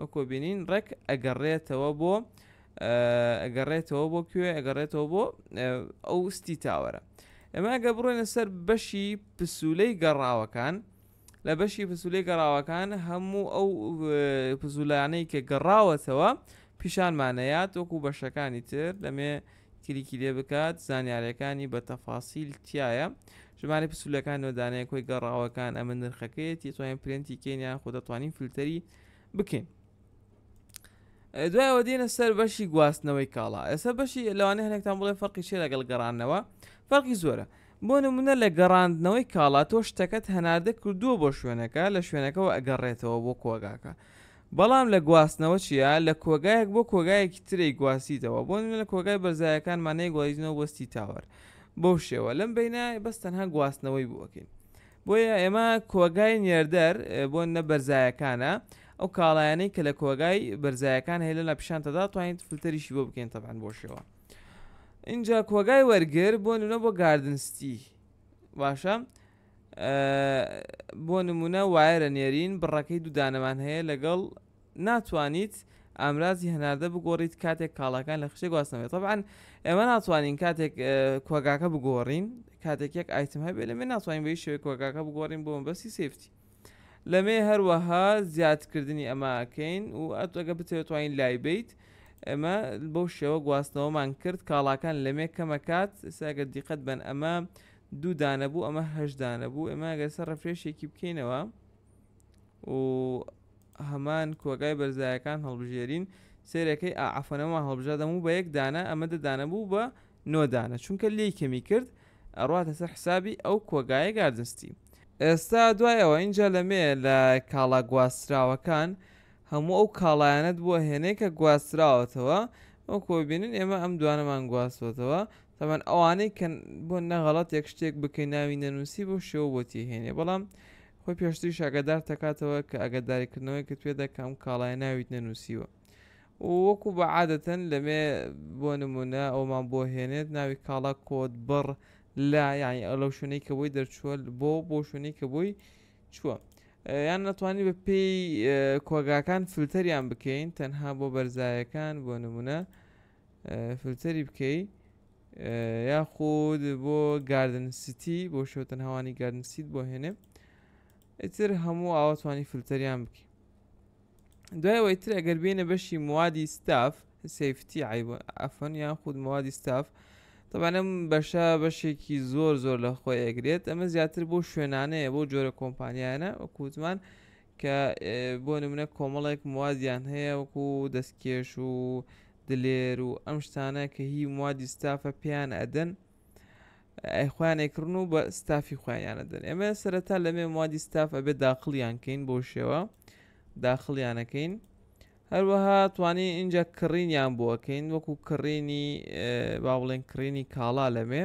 وەکو بینین ڕێک ئەگەڕێتەوە بۆ ئەگەڕێتەوە بۆ کوێ ئەگەڕێتەوە بۆ ئەو ستی تاوەرە ئەمە ئەگە بڕۆێنە سەر بەشی پسولەی گەڕاوەکان لە بەشی پسولەی گەڕاوەکان هەموو ئەو پزولانەی کە گەڕاوەتەوە پیشانمانەیە تۆکو بەشەکانی تر لەمێ کلیکی لێ بکات زانیارەکانی بە تەفاسیل تیایە ژمارەی پسولەکان نۆدانەیە کۆی گەڕاوەکان ئەمە نرخەکەیەتی توانین پرێنتی کەین یان خۆ دەتوانین فلتەری بکەین دوایەوە دێنە سەر بەشی گواستنەوەی کاڵا ئێستا بەشی لەوانە هەنێکتان بڵێ فەرقی چێ لەگەڵ گەڕانەوە فەرقی زۆرە بۆ نمونە لە گەڕاندنەوەی کاڵا تۆ شتەکەت هەناردە کردووە بۆ شوێنەکە لە شوێنەکەەوە ئەگەڕێتەوە بۆ کۆگاکە بەڵام لە گواستنەوە چیا لە کۆگایەک بۆ کۆگایەکی تر ئەیگوازیتەوە بۆ نمونە لە کۆگای بەرزایەکانمان نەیگوازینەوە بۆ ستی تاوەر بەو شێوە لەم بینە بەس تەنها گواستنەوەی بۆ ئەکەین بۆیە ئێمە کۆگای نێردەر بۆ نە بەرزایەکانە ئەو کاڵایانەی کە لە کۆگای بەرزایەکان هەیە لە پیشانتەدا توانین فلتەریشی بۆ بکەین تەبان بۆ شێوە اینجا کۆگای وەرگر بۆ نونە بۆ گاردنستی باشە بۆ نمونە وایەرە نێرین بڕەکەی دوو دانەمان هەیە لەگەڵ ناتوانیت ئامرازی هەناردە بگۆڕیت کاتێک کاڵاکان لە خشتێک واسنەوەێت طبعاان ئێمە ناتوانین کاتێک کۆگاکە بگۆڕین کاتێک یەک ئایتم هەبێت لە من ناتوانین بەی شوێ کۆگاکە بگۆڕین بۆم بەسی سفتی لەمێ هەروەها زیادکردنی ئەماکەین و ئەتەگە بتێتوانین لای بیت ئەمە بەو شێوە گواستنەوەمان کرد کاڵاکان لەمێ کەمەکات ساگە دیقەت بن ئەمە دوو دانە بوو ئەمە هەشت دانە بوو ئێمە ئەگەر سەر ڕفرێشێکی بکەینەوە و هەمان کۆگای بەرزایەکان هەڵبژێرین سێرەکەی ئافەنەوە هەڵبژادەم و بە یەک دانە ئەمە دەدانە بوو بە نۆدانە چونکە لی کەمی کرد ئەڕاتە سەر حسابی ئەو کۆگایە گاردنستی ئێستا دوایەوە اینجا لەمێ لە کاڵا گواستراوەکان هەموو ئەو کاڵایەنەت بووە هێنێکە گواستراوەتەوە ئەو کۆبینن ئێمە ئەم دوانەمان گواستوەتەوە تەبعەن ئەوانەی کە بۆ نەغەڵەتێک شتێک بکەی ناوی نەنووسی بۆ شێوە بۆ تێهێنێ بەڵام خۆی پێشتریش ئەگەدار تەکاتەوە کە ئەگەداریکردنەوەی کە توێ دەکەم کاڵای ناویت نەنووسیوە وەکو بە عادەتەن لەمێ بۆ نمونە ئەومان بۆ هێنێت ناوی کاڵا کۆت بڕ لا یعنی ئەو لەو شوێنەی کە بۆی دەرچووە بۆ بۆ شوێنەی کە بۆی چووە یان ناتوانانی بە پێی کۆگاکان فلتەریان بکەین تەنها بۆ بەرزایەکان بۆ نمونە فلتەری بکەی یاخود بۆ گاردن سیتی بۆ شوتن هەوانی گاردن سیت بۆ هێنێ ئیتر هەموو ئاواتوانی فلتەریان بکی دوایەوەی تر ئەگەر بینە بەشی موادی ستاف سفتی ئەفەن یان خود موادی ستاف طبعاەم بەشە بەشێکی زۆر زۆر لە خۆی ئەگرێت ئەمە زیاتر بۆ شوێنانەیە بۆ جۆرە کۆمپانیانە وەکووتمان کە بۆ نمونە کۆمەڵێک موادیان هەیە وەکو دەستکێش و دلێر و ئەم شتانە کە هی موادی ستافە پێیان ئەدەن ئەیخوایان ئەیکڕن و بە ستافی خۆیانە دەن ئێمە سەرەتا لەمێ موادی ستاف ئەبێ داخڵیان کەین بۆ شێوە داخڵیانەکەین هەروەها توانی اینجا کڕینیان بۆکەین وەکو کڕینی با بڵێن کڕینی کاڵا لەمێ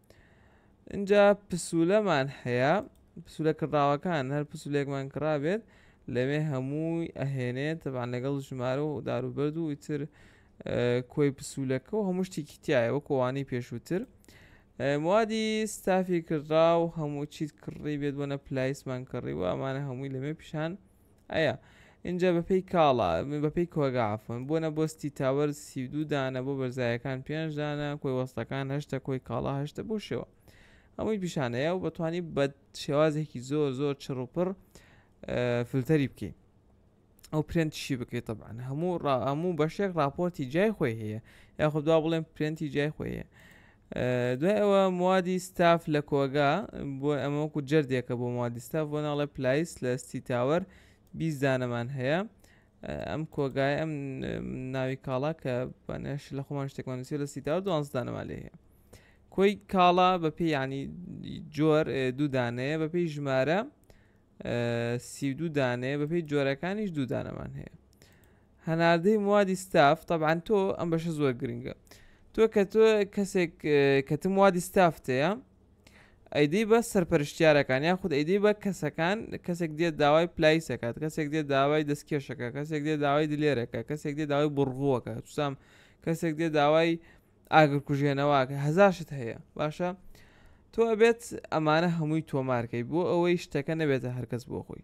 اینجا پسولەمان هەیە پسولە کڕاوەکان هەر پسولێکمان کڕابێت لەوێ هەمووی ئەهێنێت تەبان لەگەڵ ژمارە و داروبەرد و ئیتر کۆی پسولەکە و هەموو شتێکی تایەوە کۆوانی پێشووتر موادی ستافی کڕا و هەموو چیت کڕی بێت بۆنە پلایسمان کڕی و ئەمانە هەمووی لەمێ پیشان ئەیا ئینجا بەپێی کاڵا بەپێی کۆگا عفوەن بۆ نە بۆستی تاوەر سی دوو دانە بۆ بەرزایەکان پێنج دانە کۆی وەستەکان هەشتە کۆی کاڵا هەشتە بۆ شێوە ئەمەی پیشانەیە و بەتوانی بە شێوازێکی زۆر زۆر چڕوپڕ فلتەری بکەیت ئەو پرێنتشی بکەیت طبعاان هەموو هەموو بەشێک راپۆرتی جای خۆی هەیە یاخدا بڵێن پرێنتی جای خۆی هەیە دوای ئەوە موادی ستاف لە کۆگا بۆ ئەمە وەکو جەردێکە بۆ موادی ستاف بۆ ناڵێ پلایس لە ستی تاوەر بیست دانەمان هەیە ئەم کۆگای ئەم ناوی کاڵا کە بەنێش لە خۆمان شتێکمان نووسی لە سی تاوە دوانز دانەمان لێ هەیە کۆی کاڵا بە پێی ینی جۆر دوو دانەیە بە پێی ژمارە سی دوو دانەیە بە پێی جۆرەکانیش دوو دانەمان هەیە هەناردەی موادی ستاف تەبعەن تۆ ئەم بەشە زۆر گرنگە تۆ کە تۆ کەسێک کەتم موادی ستافتەیە ئەیدی بە سەرپەرشتیارەکان یا خود ئەیدی بە کەسەکان کەسێک دێت داوای پلایسەکات کەسێک دێت داوای دەستکێشەکە کەسێک دێ داوای دلێرەکە کەسێک دێ داوای بڕغووەکە چسام کەسێک دێ داوای ئاگر کوژێنەوەکە هەزارشت هەیە باشە تۆ ئەبێت ئەمانە هەمووی تۆمارکەی بۆ ئەوەی شتەکە نەبێتە هەرکەس بۆ خۆی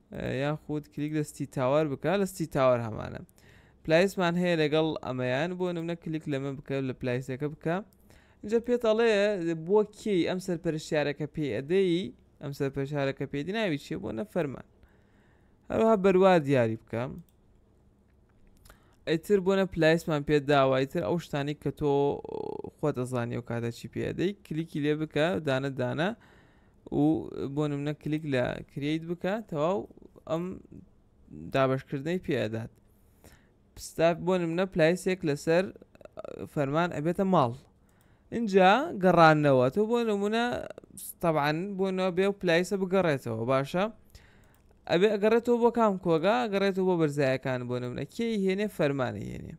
یاخود کلیک لە ستی تاوەر بکە لە ستی تاوەر هەمانە پلایسمان هەیە لەگەڵ ئەمەیان بۆ نمونە کلیک لەمە بکە لە پلایسەکە بکە جا پێت ئەڵێ بۆ کێی ئەم سەرپەرشارەکە پێ ئەدەی ئەم سەرپەرشارەکە پێدی ناوی چێ بۆ نەفەرمان هەروها بەروا دیاری بکەم ئیتر بۆنە پلایسمان پێ داوە ئیتر ئەو شتانی کە تۆ خۆ دەزانانی و کاتە چی پێدەی کلیکی لێ بکە دانە دانە و بۆ منە کلیک لە کریت بکە تەواو ئەم دابشکردنەی پێدات پستاف بۆ منە پلایسێک لەسەر فەرمان ئەبێتە ماڵ ئینجا گەڕانەوە تۆ بۆ نمونە تەبان بۆ نەوە بێ و پلایسە بگەڕێتەوە باشە ئەبێ ئەگەڕێتەوە بۆ کام کۆگا گەڕێتەوە بۆ بەرزایەکان بۆ نمونە کێی هێنێ فەرمانە هێنێ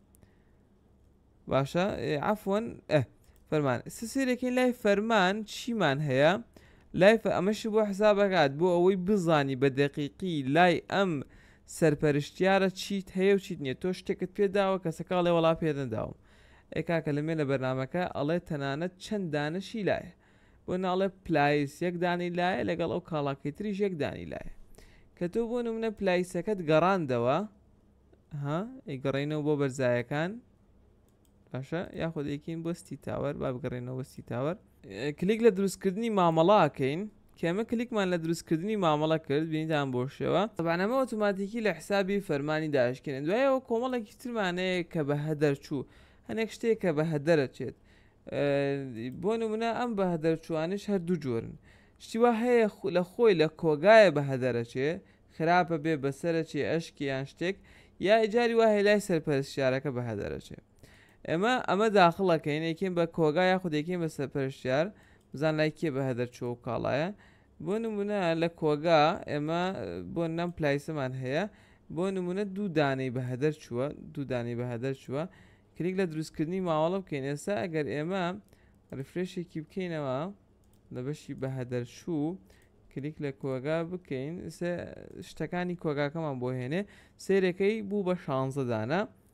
باشە عفۆن فەرمان سسیرەکەی لای فەرمان چیمان هەیە لای ئەمەشی بۆ حسابەکات بۆ ئەوەی بزانی بە دەقیقی لای ئەم سەرپەرشتیارە چیت هەیە و چیت نیە تۆ شتێکت پێداوە کەسەکەڵێ وڵا پێدەداوم ئەی کاکە لەمێ لە بەرنامەکە ئەڵێ تەنانەت چەند دانەشی لایە بۆ ناڵێ پلایس یەک دانی لایە لەگەڵ ئەو کاڵاکەی تریش یەک دانی لایە کە تۆ بۆ نمونە پلایسەکەت گەڕاندەوە ها ئەیگەڕێنەوە بۆ بەرزایەکان باشە یاخۆ دەیکەین بۆستی تاوەر با بگەڕێنەوە ستی تاوەر کلیک لە دروستکردنی مامەڵاکەین کە ئێمە کلیکمان لە دروستکردنی مامەڵە کرد بینیتان بۆ شێوە. تەبعەن ئەمە ئۆتۆماتیکی لە حسابی فەرمانی داشکێنێت دوای ئەوە کۆمەڵێکی ترمان هەیە کە بە هەدەرچوو هەنێک شتێک کە بە هەدەرەچێت بۆ نمونە ئەم بە هەدەرچوانش هەر دوو جۆرن شتی وا هەیە لە خۆی لە کۆگایە بە هەدەرەچێ خراپە بێ بەسەرەچێ ئەشکێ یان شتێک یا ئیجاری وایە لای سەرپەرستیارەکە بە هەدەرەچێ ئێمە ئەمە داخڵەکەین یەکەین بە کۆگا یاخود یەکەین بە سەرپەرشتیار بزان لای کێ بە هەدەر چۆ و کاڵایە بۆ نمونە لە کۆگا ئێمە بۆ نەم پلایسەمان هەیە بۆ نمونە دوو دانەی بە هەدەر چووە دوو دانەی بە هەدەر چووە کلیک لە دروستکردنی ماوەڵە بکەین ئێستا ئەگەر ئێمە ریفرێشێکی بکەینەوە لە بەشی بە هەدەر چوو کلیک لە کۆگا بکەین شتەکانی کۆگاکەمان بۆ هێنێ سێرەکەی بوو بە شانزەدانە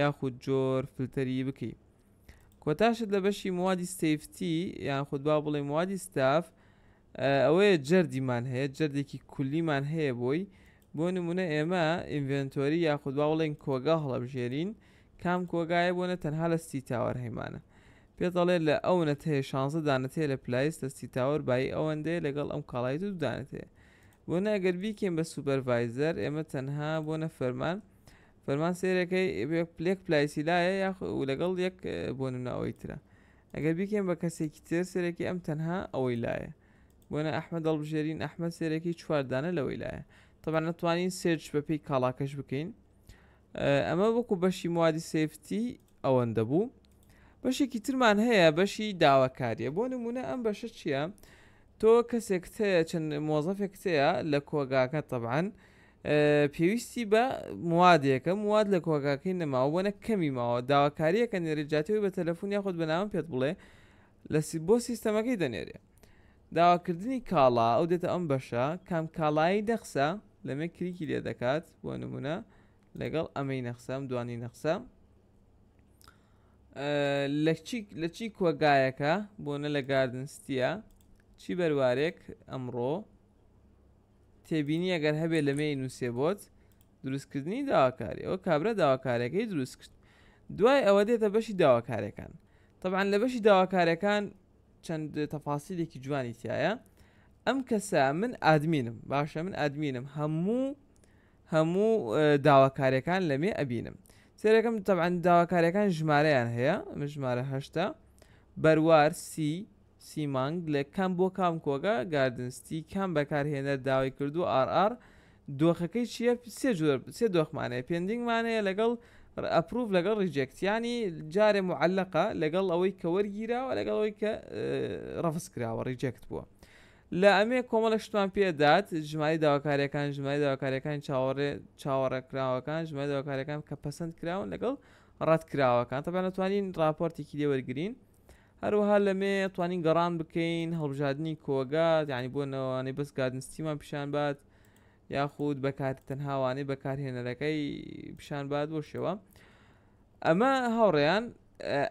یاخود جۆر فلتەری بکەی کۆتا شت لە بەشی موادی ستەیفتی یاخود با بڵێ موادی ستاف ئەوەیە جەردیمان هەیە جەردێکی کولیمان هەیە بۆی بۆ نمونە ئێمە ئینڤنتۆری یاخود با بڵێن کۆگا هەڵەبژێرین کام کۆگایە بۆنە تەنها لە سی تاوەر هەیمانە پێ دەڵێت لە ئەو نەتەیە شانزە دانەتەیە لە پلایس لە سی تاوەر بای ئەوەندەیە لەگەڵ ئەم کاڵایت و دانێتەیە بۆ ناگەر بیکەین بە سوپەرڤایزەر ئێمە تەنها بۆ نەفەرمان فەرمان سێرەکەی پلێک پلایسی لایە یا و لەگەڵ یەک بۆ نمناوەی ترە ئەگەر بیکەین بە کەسێکی تر سێرەکی ئەم تەنها ئەوەی لایە بۆنە ئەحمە دەڵبژێرین ئەحمە سێرەکی چواردانە لەوەی لایە تەبان نەتوانین سێرچ بەپی کاڵاکەش بکەین ئەمە وەکو بەشی موادی سفتی ئەوەندە بوو بەشێکی ترمان هەیە بەشی داواکاریە بۆ نمونە ئەم بەشە چییە؟ تۆ کەسێک هەیە چەند مۆزەفێک هەیە لە کۆگاکە تەبان پێویستی بە موادێکە مواد لە کۆگاکەی نەماوە بۆ نە کەمی ماوە داواکاریەکە نێری جاتەوەی بە تەلەفۆن یاخود بەناوم پێت بڵێ لە بۆ سیستەمەکەی دەنێرێ داواکردنی کاڵا ئەو دێتە ئەم بەشە کام کاڵایی دەخسە لەمێ کریکی لێ دەکات بۆ نمونە لەگەڵ ئەمەی نەخسەم دوانی نەخسە لە چی کۆگایەکە بۆ نە لە گاردنستیە چی بەروارێک ئەمڕۆ تێبینی ئەگەر هەبێت لەمێ ئینوسێ بۆت دروستکردنی داواکاری ئەوە کابرا داواکارەکەی دروست کرد دوای ئەوە دێتە بەشی داواکارەکان طبعا لە بەشی داواکارەکان چەند تەفاسیلێکی جوانی تایە ئەم کەسە من ئادمینم باشە من ئادمینم هەموو هەموو داواکارەکان لەمێ ئەبینم سێرەکەم تەعاان داواکارەکان ژمارەیان هەیە من ژمارە هەشتا بەروار سی سی مانگ لە کام بۆ کام کۆگا گاردن ستی کام بەکارهێنەر داوای کردووە ئاڕ ئاڕ دۆخەکەی چیە سێ جۆر سێ دۆخمانەیە پێندینگ مانەیە لەگەڵ ڕ ئەپڕوڤ لەگەڵ ڕیجێکت یانی جارێ موعەلەقە لەگەڵ ئەوەی کە وەرگیراوە لەگەڵ ئەوەی کە ڕەفز کراوە ڕیجێکت بووە لە ئەمێ کۆمەڵە شتمان پێ دات ژماری داواکاریەکان ژماری داواکاریەکان چاوەڕێ چاوەڕێ کراوەکان ژماری داواکاریەکان کە پەسەند کراون لەگەڵ ڕەت کراوەکان تەبەنەتوانین ڕاپۆرتێکی لێ وەرگین هەروەها لەمێ توانین گەڕان بکەین هەڵبژاردننی کۆگا یعنی بۆ نەوانەی بەس گادنستیمان پیشان بات یاخود بەکار تەنهاوانەی بەکارهێنەرەکەی پیشان بات بۆ شێوە ئەمە هاوڕێیان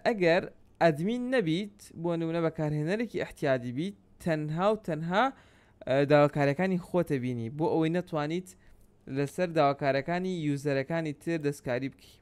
ئەگەر ئەدمین نەبیت بۆ نمونە بەکارهێنەرێکی احتیادی بیت تەنها و تەنها داواکارەکانی خۆتە بینی بۆ ئەوەی نەتوانیت لەسەر داواکارەکانی یوزەرەکانی تر دەستکاری بکەیت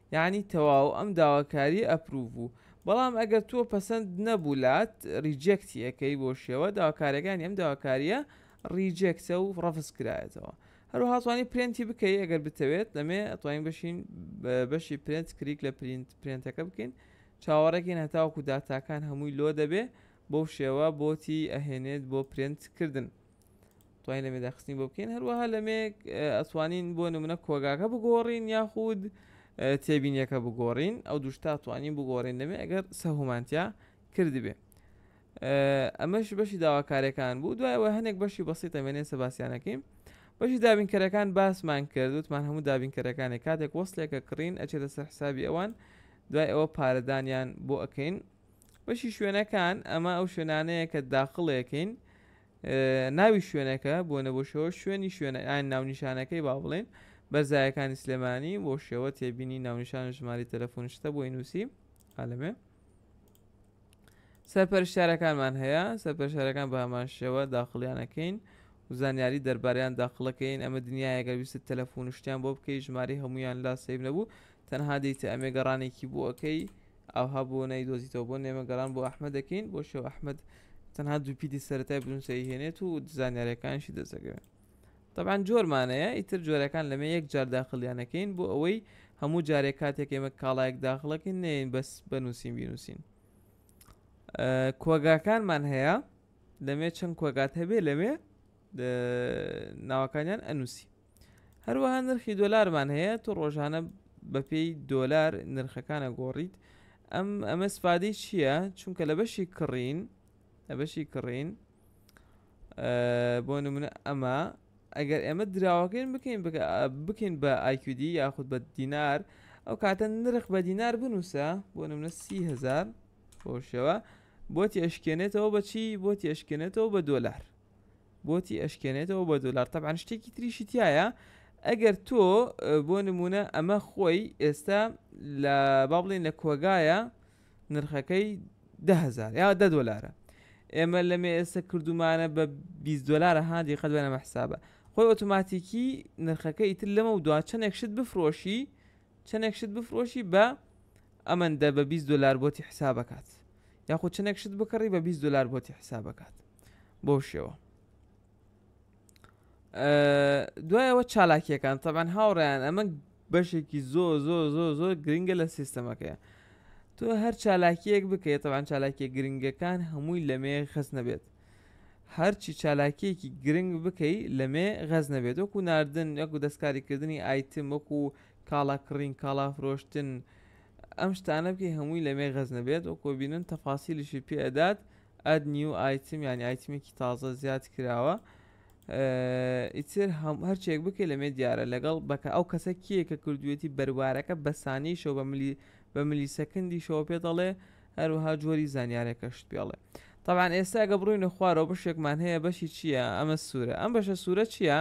یەعنی تەواو ئەم داواکاریە ئەپروڤ بوو بەڵام ئەگەر تۆ پەسەند نەبوو لات ڕیجێکتی ئەکەی بۆ شێوە داواکاریەکانی ئەم داواکاریە ڕیجێکتە و ڕەفز کرایەتەوە هەروەها توانی پرێنتی بکەی ئەگەر بتەوێت لەمێ ئەتوانین بشین بەشی پرێنت کریک لە پرینت پرێنتەکە بکەین چاوەڕێکین هەتاوەکو داتاکان هەمووی لۆ دەبێ بەو شێوە بۆتی ئەهێنێت بۆ پرێنت کردن توانین لەمێ داخستنی بۆ بکەین هەروەها لەمێ ئەتوانین بۆ نمونە کۆگاکە بگۆڕین یاخود تێبینیەکە بگۆڕین ئەو دوشتا توانین بگۆڕین دەمێ ئەگەر سەهومانتیا کردبێ ئەمەش بەشی داواکارەکان بوو دوایەوە هەنێک بەشی بەسی تەمێنێ سەباسیانەکەین بەشی دابینکەرەکان باسمان کرد وتمان هەموو دابینکەرەکانی کاتێک وەصلێکە کڕین ئەچێتە سەر حسابی ئەوان دوای ئەوە پارەدانیان بۆ ئەەکەین بەشی شوێنەکان ئەمە ئەو شوێنانەیە کە داخڵێکین ناوی شوێنەکە بۆنە بۆ شەوە شوێنی شوێنە ئاین ناونیشانەکەی با بڵێن بەرزایەکانی سلێمانی بۆ شێوە تێبینی ناونیشان ژماری تەلەفۆن شتە بۆی نووسی ئالەمێ سەرپەرشارەکانمان هەیە سەرپەرشارەکان بە هەمان شێوە داخڵیانەکەین و زانیاری دەرباریان داخڵەکەین ئەمە دنیاەگەر ویست تەلەفۆن شتیان بۆ بکەی ژماری هەمویان لا سیب نەبوو تەنها دیتە ئەمێ گەڕانێکی بۆ ئەەکەی ئاوها بۆ نای دۆزیتەوە بۆ نێمە گەڕان بۆ ئەحمە دەکەین بۆ شێو ئەحمد تەنها دوپیتی سەرەتای بنووسەی هێنێت و زانیارەکانشی دەزەگەوێت طبعاان جۆرمانەیە ئیتر جۆرەکان لەمە یەک جار داخلیانەکەین بۆ ئەوەی هەموو جارێک کاتێک ئێمە کاڵایەک داخڵەکەین نێن بەس بەنووسین بینووسین کۆگاکانمان هەیە لەمێ چەند کۆگات هەبێ لەمێ ناوەکانیان ئەنووسی هەروەها نرخی دۆلارمان هەیە تۆ ڕۆژانە بەپێی دۆلار نرخەکان ئەگۆڕیت ئەم ئەمە سفادەی چییە چونکە لە بەشی کڕین لە بەشی کڕین بۆ نمونە ئەمە ئەگەر ئێمە دراوەکەین بکەین بکەین بە ئایکیدی یاخود بە دینار ئەو کاتە نرخ بە دینار بنووسە بۆ نمونە سیهزار بۆشەوە بۆ تێشکێنێتەوە بەچی بۆ تێشکێنێتەوە بە دۆلار بۆتی ئەشکێنێتەوە بە دۆلار تەبعەن شتێکی تریشی تایە ئەگەر تۆ بۆ نمونە ئەمە خۆی ئێستا لە با بڵێن لە کۆگایە نرخەکەی دههزار یا دە دۆلارە ئێمە لە مێ ئێستا کردومانە بە 20 دلارە هادی قەت بەەمە حسابە خۆی ئۆتوماتیکی نرخەکە ئیتر لەمە و دوا چەندێک شت بفرۆشی چەندێک شت بفرۆشی بە ئەمەندە بە 20 دلار بۆتی حسابکات یاخود چەندێک شت بکڕی بە 20 دلار بۆتی حسابکات بۆ شێوە دوایەوە چالاکیەکان تەبان هاوڕیان ئەمە بەشێکی زۆ زۆ زۆ زۆ گرنگە لە سیستەمەکەی تۆ هەر چالاکیەک بکەیت تەوان چالاکیە گرنگەکان هەمووی لەمێ خەس نەبێت هەرچی چالاکیەکی گرنگ بکەی لەمێ غەز نەبێت وەکو ناردن یەکو دەستکاریکردنی ئایتم وەکو کاڵا کڕین کاڵا فرۆشتن ئەم شتانە بکەی هەمووی لەمێ غەز نەبێت وەکۆ بینن تەفاسیلیشی پێدات Add New Item یانی ئایتمێکی تازە زیاد کراوە ئیتر هەرچێک بکەی لەمێ دیارە لەگەڵ بەکە ئەو کەسە کیە کە کردوێتی بەروارەکە بەسانیشەوە بە ملی بە ملی سەکندیشەوە پێ دەڵێ هەروها جۆری زانیارەکەشت پێڵێ طبعاان ئێستا گە بڕوینە خوارەوە بەشێکمان هەیە بەشی چییە ئەمە سوورە ئەم بەشە سوورە چییە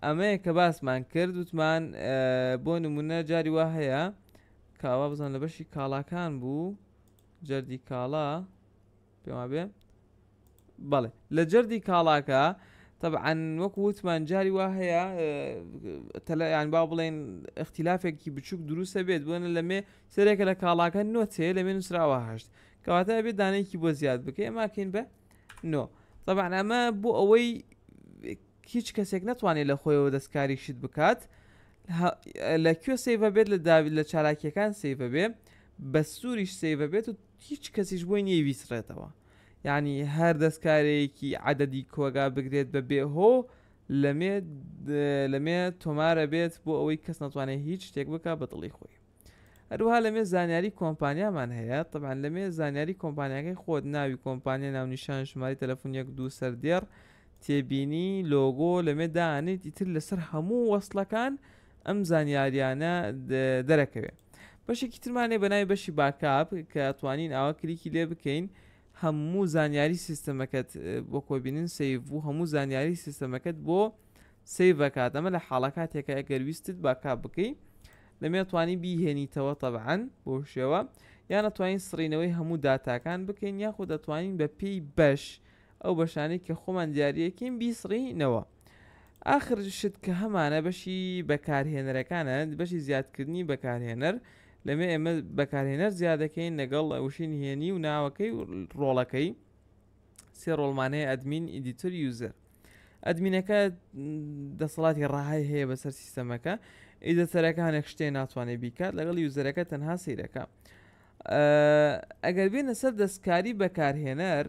ئەمەیە کە باسمان کرد وتمان بۆ نمونە جاری وا هەیە کاوا بزان لە بەشی کاڵاکان بوو جەردی کاڵا پێم وابێ بەڵێ لە جەردی کاڵاکە طبعاً وەک وتمان جاری وا هەیە تەلەیان با بڵێن اختلافێکی بچووک دروستە بێت بۆنە لەمێ سەرێکە لە کاڵاکە نۆتێ لەمێ نووسراوە هەشت کەواتە بێت دانێکی بۆ زیاد بکەێ ماکەین بە نۆ طبعاً ئەمە بۆ ئەوەی هیچ کەسێک نەتوانێت لە خۆیەوە دەستکاری شت بکات ه لە کوێ سەیڤە بێت لە داوی لە چالاکیەکان سەیڤە بێ بە سووریش سەیڤە بێت و هیچ کەسیش بۆی نییە ویسڕێتەوە یعنی هەر دەستکارەیەکی عددی کۆگا بگرێت بە بێ هۆ لەمێ لەمێ تۆمارە بێت بۆ ئەوەی کەس ناتوانێت هیچ شتێک بک بە دڵی خۆی هەروەها لەمێ زانیاری کۆمپانیامان هەیە طبعا لەمێ زانیاری کۆمپانیاکەی خۆت ناوی کۆمپانیا ناونیشان ژماری تەلەفۆن یەک دوو سەردێڕ تێبینی لۆگۆ لەمێ دانیت ئیتر لەسەر هەموو وەصلەکان ئەم زانیاریانە دەرەکەوێت بەشێکی ترمانێ بە ناوی بەشی باکاپ کە توانین ئاوا کلیکی لێ بکەین هەموو زانیاری سیستەمەکەت بۆ کۆبینن سیف و هەموو زانیاری سیستەمەکەت بۆ سەیڤ ئەکات ئەمە لە حاڵە کاتێکە ئەگەر ویستت باکاپ بکەی لەمێ توانی بیهێنیتەوە تەبعەن بۆ شێوە یان ئەتوانین سڕینەوەی هەموو داتاکان بکەین یاخود دەتوانین بە پێی بەش ئەو بەشانەی کە خۆمان دیارەکەین بیسڕینەوە ئاخر شت کە هەمانە بەشی بەکارهێنەرەکانە بەشی زیادکردنی بەکارهێنەر لەمێ ئێمە بەکارهێنەر زیادەکەین لەگەڵ وشین هێنی و ناوەکەی و ڕۆڵەکەی سێ ڕۆڵمان هەیە ئەدمین ئیدیتر یوزەر ئەدمینەکە دەسەڵاتی ڕاهای هەیە بەسەر سیستەمەکە ئیدەتەرەکە هەنێک شتێ ناتوانێت بیکات لەگەڵ یوزەرەکە تەنها سیرەکە ئەگەر بێنە سەر دەستکاری بەکارهێنەر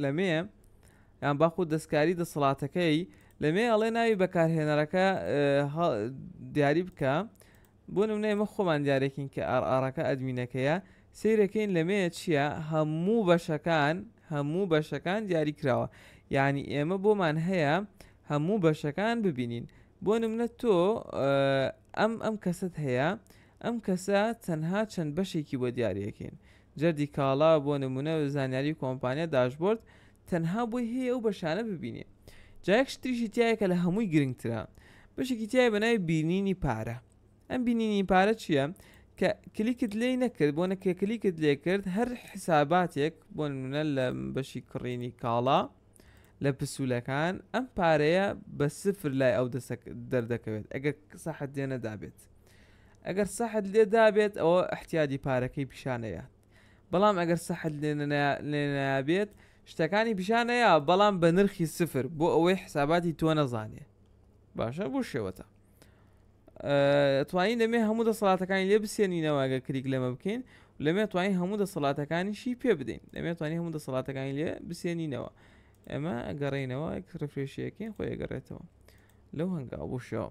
لەمێ یان باخود دەستکاری دەسەڵاتەکەی لەمێ ئەڵێ ناوی بەکارهێنەرەکە دیاری بکە بۆ نمونە ئێمە خۆمان دیارەکین کە ئاڕ ئاڕەکە ئەدمینەکەیە سەیرەکەین لەمێە چیە هەموو بەشەکان هەموو بەشەکان دیاری کراوە یعنی ئێمە بۆمان هەیە هەموو بەشەکان ببینین بۆ نمونە تۆ ئەم ئەم کەست هەیە ئەم کەسە تەنها چەند بەشێکی بۆ دیارەکەین جەردی کاڵا، بۆ نموونە زانیاری کۆمپانیا، داشبۆرد، تەنها بۆی هەیە ئەو بەشانە ببینێ. جا یەک شتریشی تیایە کە لە هەمووی گرنگترە، بەشێکی تیایە بە ناوی بینینی پارە. ئەم بینینی پارە چییە؟ کە کلیکت لێی نەکرد، بۆ نە کە کلیکت لێ کرد هەر حیساباتێک بۆ نموونە لە بەشی کڕینی کاڵا لە پسوولەکان ئەم پارەیە بە سفر لای ئەو دەردەکەوێت ئەگەر سەحت لێ نەدابێت. ئەگەر سەحت لێ دابێت ئەوە احتیادی پارەکەی پیشانەیات بەڵام ئەگەر سەحت لێنابێت شتەکانی پیشانەیە بەڵام بە نرخی سفر بۆ ئەوەی حساباتی تۆ نەزانێ باشە بۆ شێوەتە توانین دەمێ هەموو دەسەڵاتەکانی لێ بسێنینەوەگە کریک لەمە بکەین لەمێ توانین هەموو دەسەڵاتەکانیشی پێ بدەین لەمێ توانی هەموو دەسەڵاتەکانی لێ بسێنینەوە ئەمە گەڕینەوە ڕفرێشیەکەین خۆی گەڕێتەوە لەو هەنگاو بوشەوە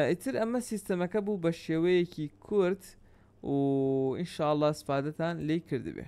ئیتر ئەمە سیستەمەکە بوو بە شێوەیەکی کورت و ئینشاءاللە سپادەتان لی کردبێ